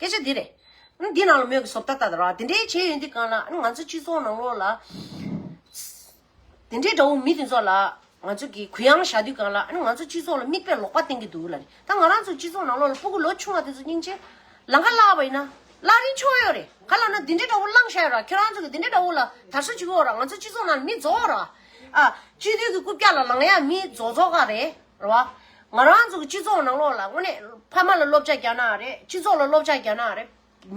སྐད་ཆ་འདི་རེད། འདི་ནང་ལ་མོས་ཀྱི་སོབ་ད་ད་ར་འདི་འདྲའི་བྱས་ཡོད་འདི་གང་ལགས། ང་ཚོ་སྤྱི་ཚོགས་ནང་ལོགས་ལ། འདི་འདྲའི་དགྲ་བོ་མི་འདི་ཚོ་ལ། ང་ཚོ་གིས་གུ་ཡངས་བཞག་དུས་གང་ལགས། ང་ཚོ་སྤྱི་ཚོགས་ལ་མིག་དཔེ་ལོག་པ་བསྟན་གྱི་འདུག་ལ་རེད། ད་ང་རང་ཚོ་སྤྱི་ཚོགས་ནང་ལོགས་ལ་སྤུ་གུ་ལོ་ཆུང་བ་དེ་ཚོ་སྙིང་རྗེ། ལ་ཁ་བླངས་པ་ཡིན་ན། བླངས་རིན་ཆོག་ཡོད་རེད། ག་ལ་ན་འདི་འདྲའི་དགྲ་བོ་བླངས་བཞག་ཡོད་ར་ཁྱོད་རང་ཚོ་གིས་འདི་འདྲའི་དགྲ་བོ་ལ་དར་སོ་བྱེད་གི་འོག་ར་ང་ཚོ་སྤྱི་ཚོགས་ནང་ལ་མི་རྫོགས་ར། ཨ། སྤྱི་འཐུས་ཀྱི་རྐུབ་བཀྱག་ལ་ལངས་ཡ་མི་རྫོགས་རྫོགས་ག་རེད། རེད་བ། ང་རང་ཚོ་གི་སྤྱི་ཚོགས་ནང་ལོགས་ལ་དངོས་གནས་ཕ་མ་ལ་སློབ་བྱ་རྒྱ་ནག་རེད་སྤྱི་ཚོགས་ལ་སློབ་བྱ་རྒྱ་ནག་རེད་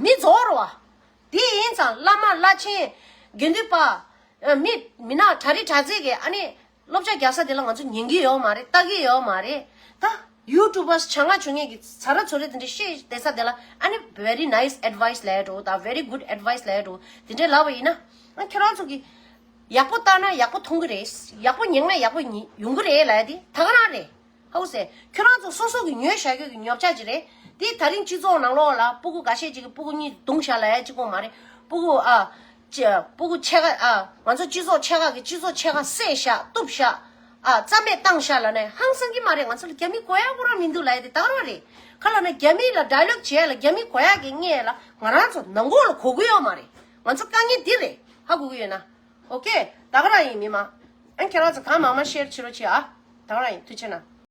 མི་རྫོགས་རེད་བ། དེ་ཡིན་ཙང་བླ་མ་བླ་ཆེན། དགེ་འདུན་པ། མི་མི་ནག་གྲྭ་རི་གྲྭ་ཚེ་གི་ཨ་ནི་སློབ་བྱ་རྒྱག་ས་དེ་ལ་ང་ཚོ་ཉན་གི་ཡོད་མ་རེད་ལྟ་གི་ཡོད་མ་རེད་ད། YouTubers བྱ་ང་བྱུ་ངེས་ཀྱི་ཚ་ར་ཚོ་རེ་དེ་འདྲས་ཤེས་བསྡད་ས་དེ་ལ་ཨ་ནི very nice advice ལད་འགྲོ་ད very good advice ལད་འགྲོ་དེ་འདྲས་ལབ་པ་ཡིན་ན་ཨ་ཁྱོད་རང་ཚོ་གི། ཡག་པོ་བལྟ་ན་ཡག་པོ་མཐོང་གི་རེད། ཡག་པོ་ཉན་ན་ཡག་པོ་ཡོང་གི་རེད་ལ་དེ་ད་ག་རང་རེད། ཧཱུྃ་སེ། ཁྱོད་རང་ཚོ་སོ་སོ་གི་ཉོས་བཞག་ཁྱོད་ཀྱི་ཉོབ་ཆགས་ཅིག་རེད། དེ་ད་རིང་སྤྱི་ཚོགས་ནང་ལོགས་ལ་སྤུ་གུ་འགའ་ཤས་ཅིག་གི་སྤུ་གུ་གཉིས་བརྡུངས་བཞག་ལ་ཅིག་ཁོ་མ་རེད། སྤུ་གུ་ཨ། སྤུ་གུ་ཆད་ཁ་ཨ། ང་ཚོ་སྤྱི་ཚོགས་ཆད་ཁ་གི་སྤྱི་ཚོགས་ཆད་ཁ་བསད་བཞག་གཏུབ་བཞག་ཨ། རྩ་མེད་བཏང་བཞག་ལ་ན་ཧང་སང་གི་མ་རེད་ང་ཚོ་ལ་རྒྱ་མི་གོ་ཡག་གོ་རང་མི་འདུག་ལ་དེ་ད་ག་རང་རེད། ཁ་ལ་ན་རྒྱ་མི་ལ་སྒྲ་ལོག་བྱས་ལ་རྒྱ་མི་གོ་ཡག་གི་བརྙས་ལ་ང་རང་ཚོ་ནང་གོ་ལ་གོ་གི་ཡོག་མ་རེད། ང་ཚོ་དཀའ་ངལ་འདི་རེད་ཧ་གོ་གི་ཡོད་ན ok ད་ག་རང་ཡིན་མི་མང་ཨན་ཁྱེད་རང་ཚོ་གང་མང་མང share བྱེད་རོགས་བྱེད་ཨ་ད་ག་རང་ཡིན་མཐུ་ཆེ་ན།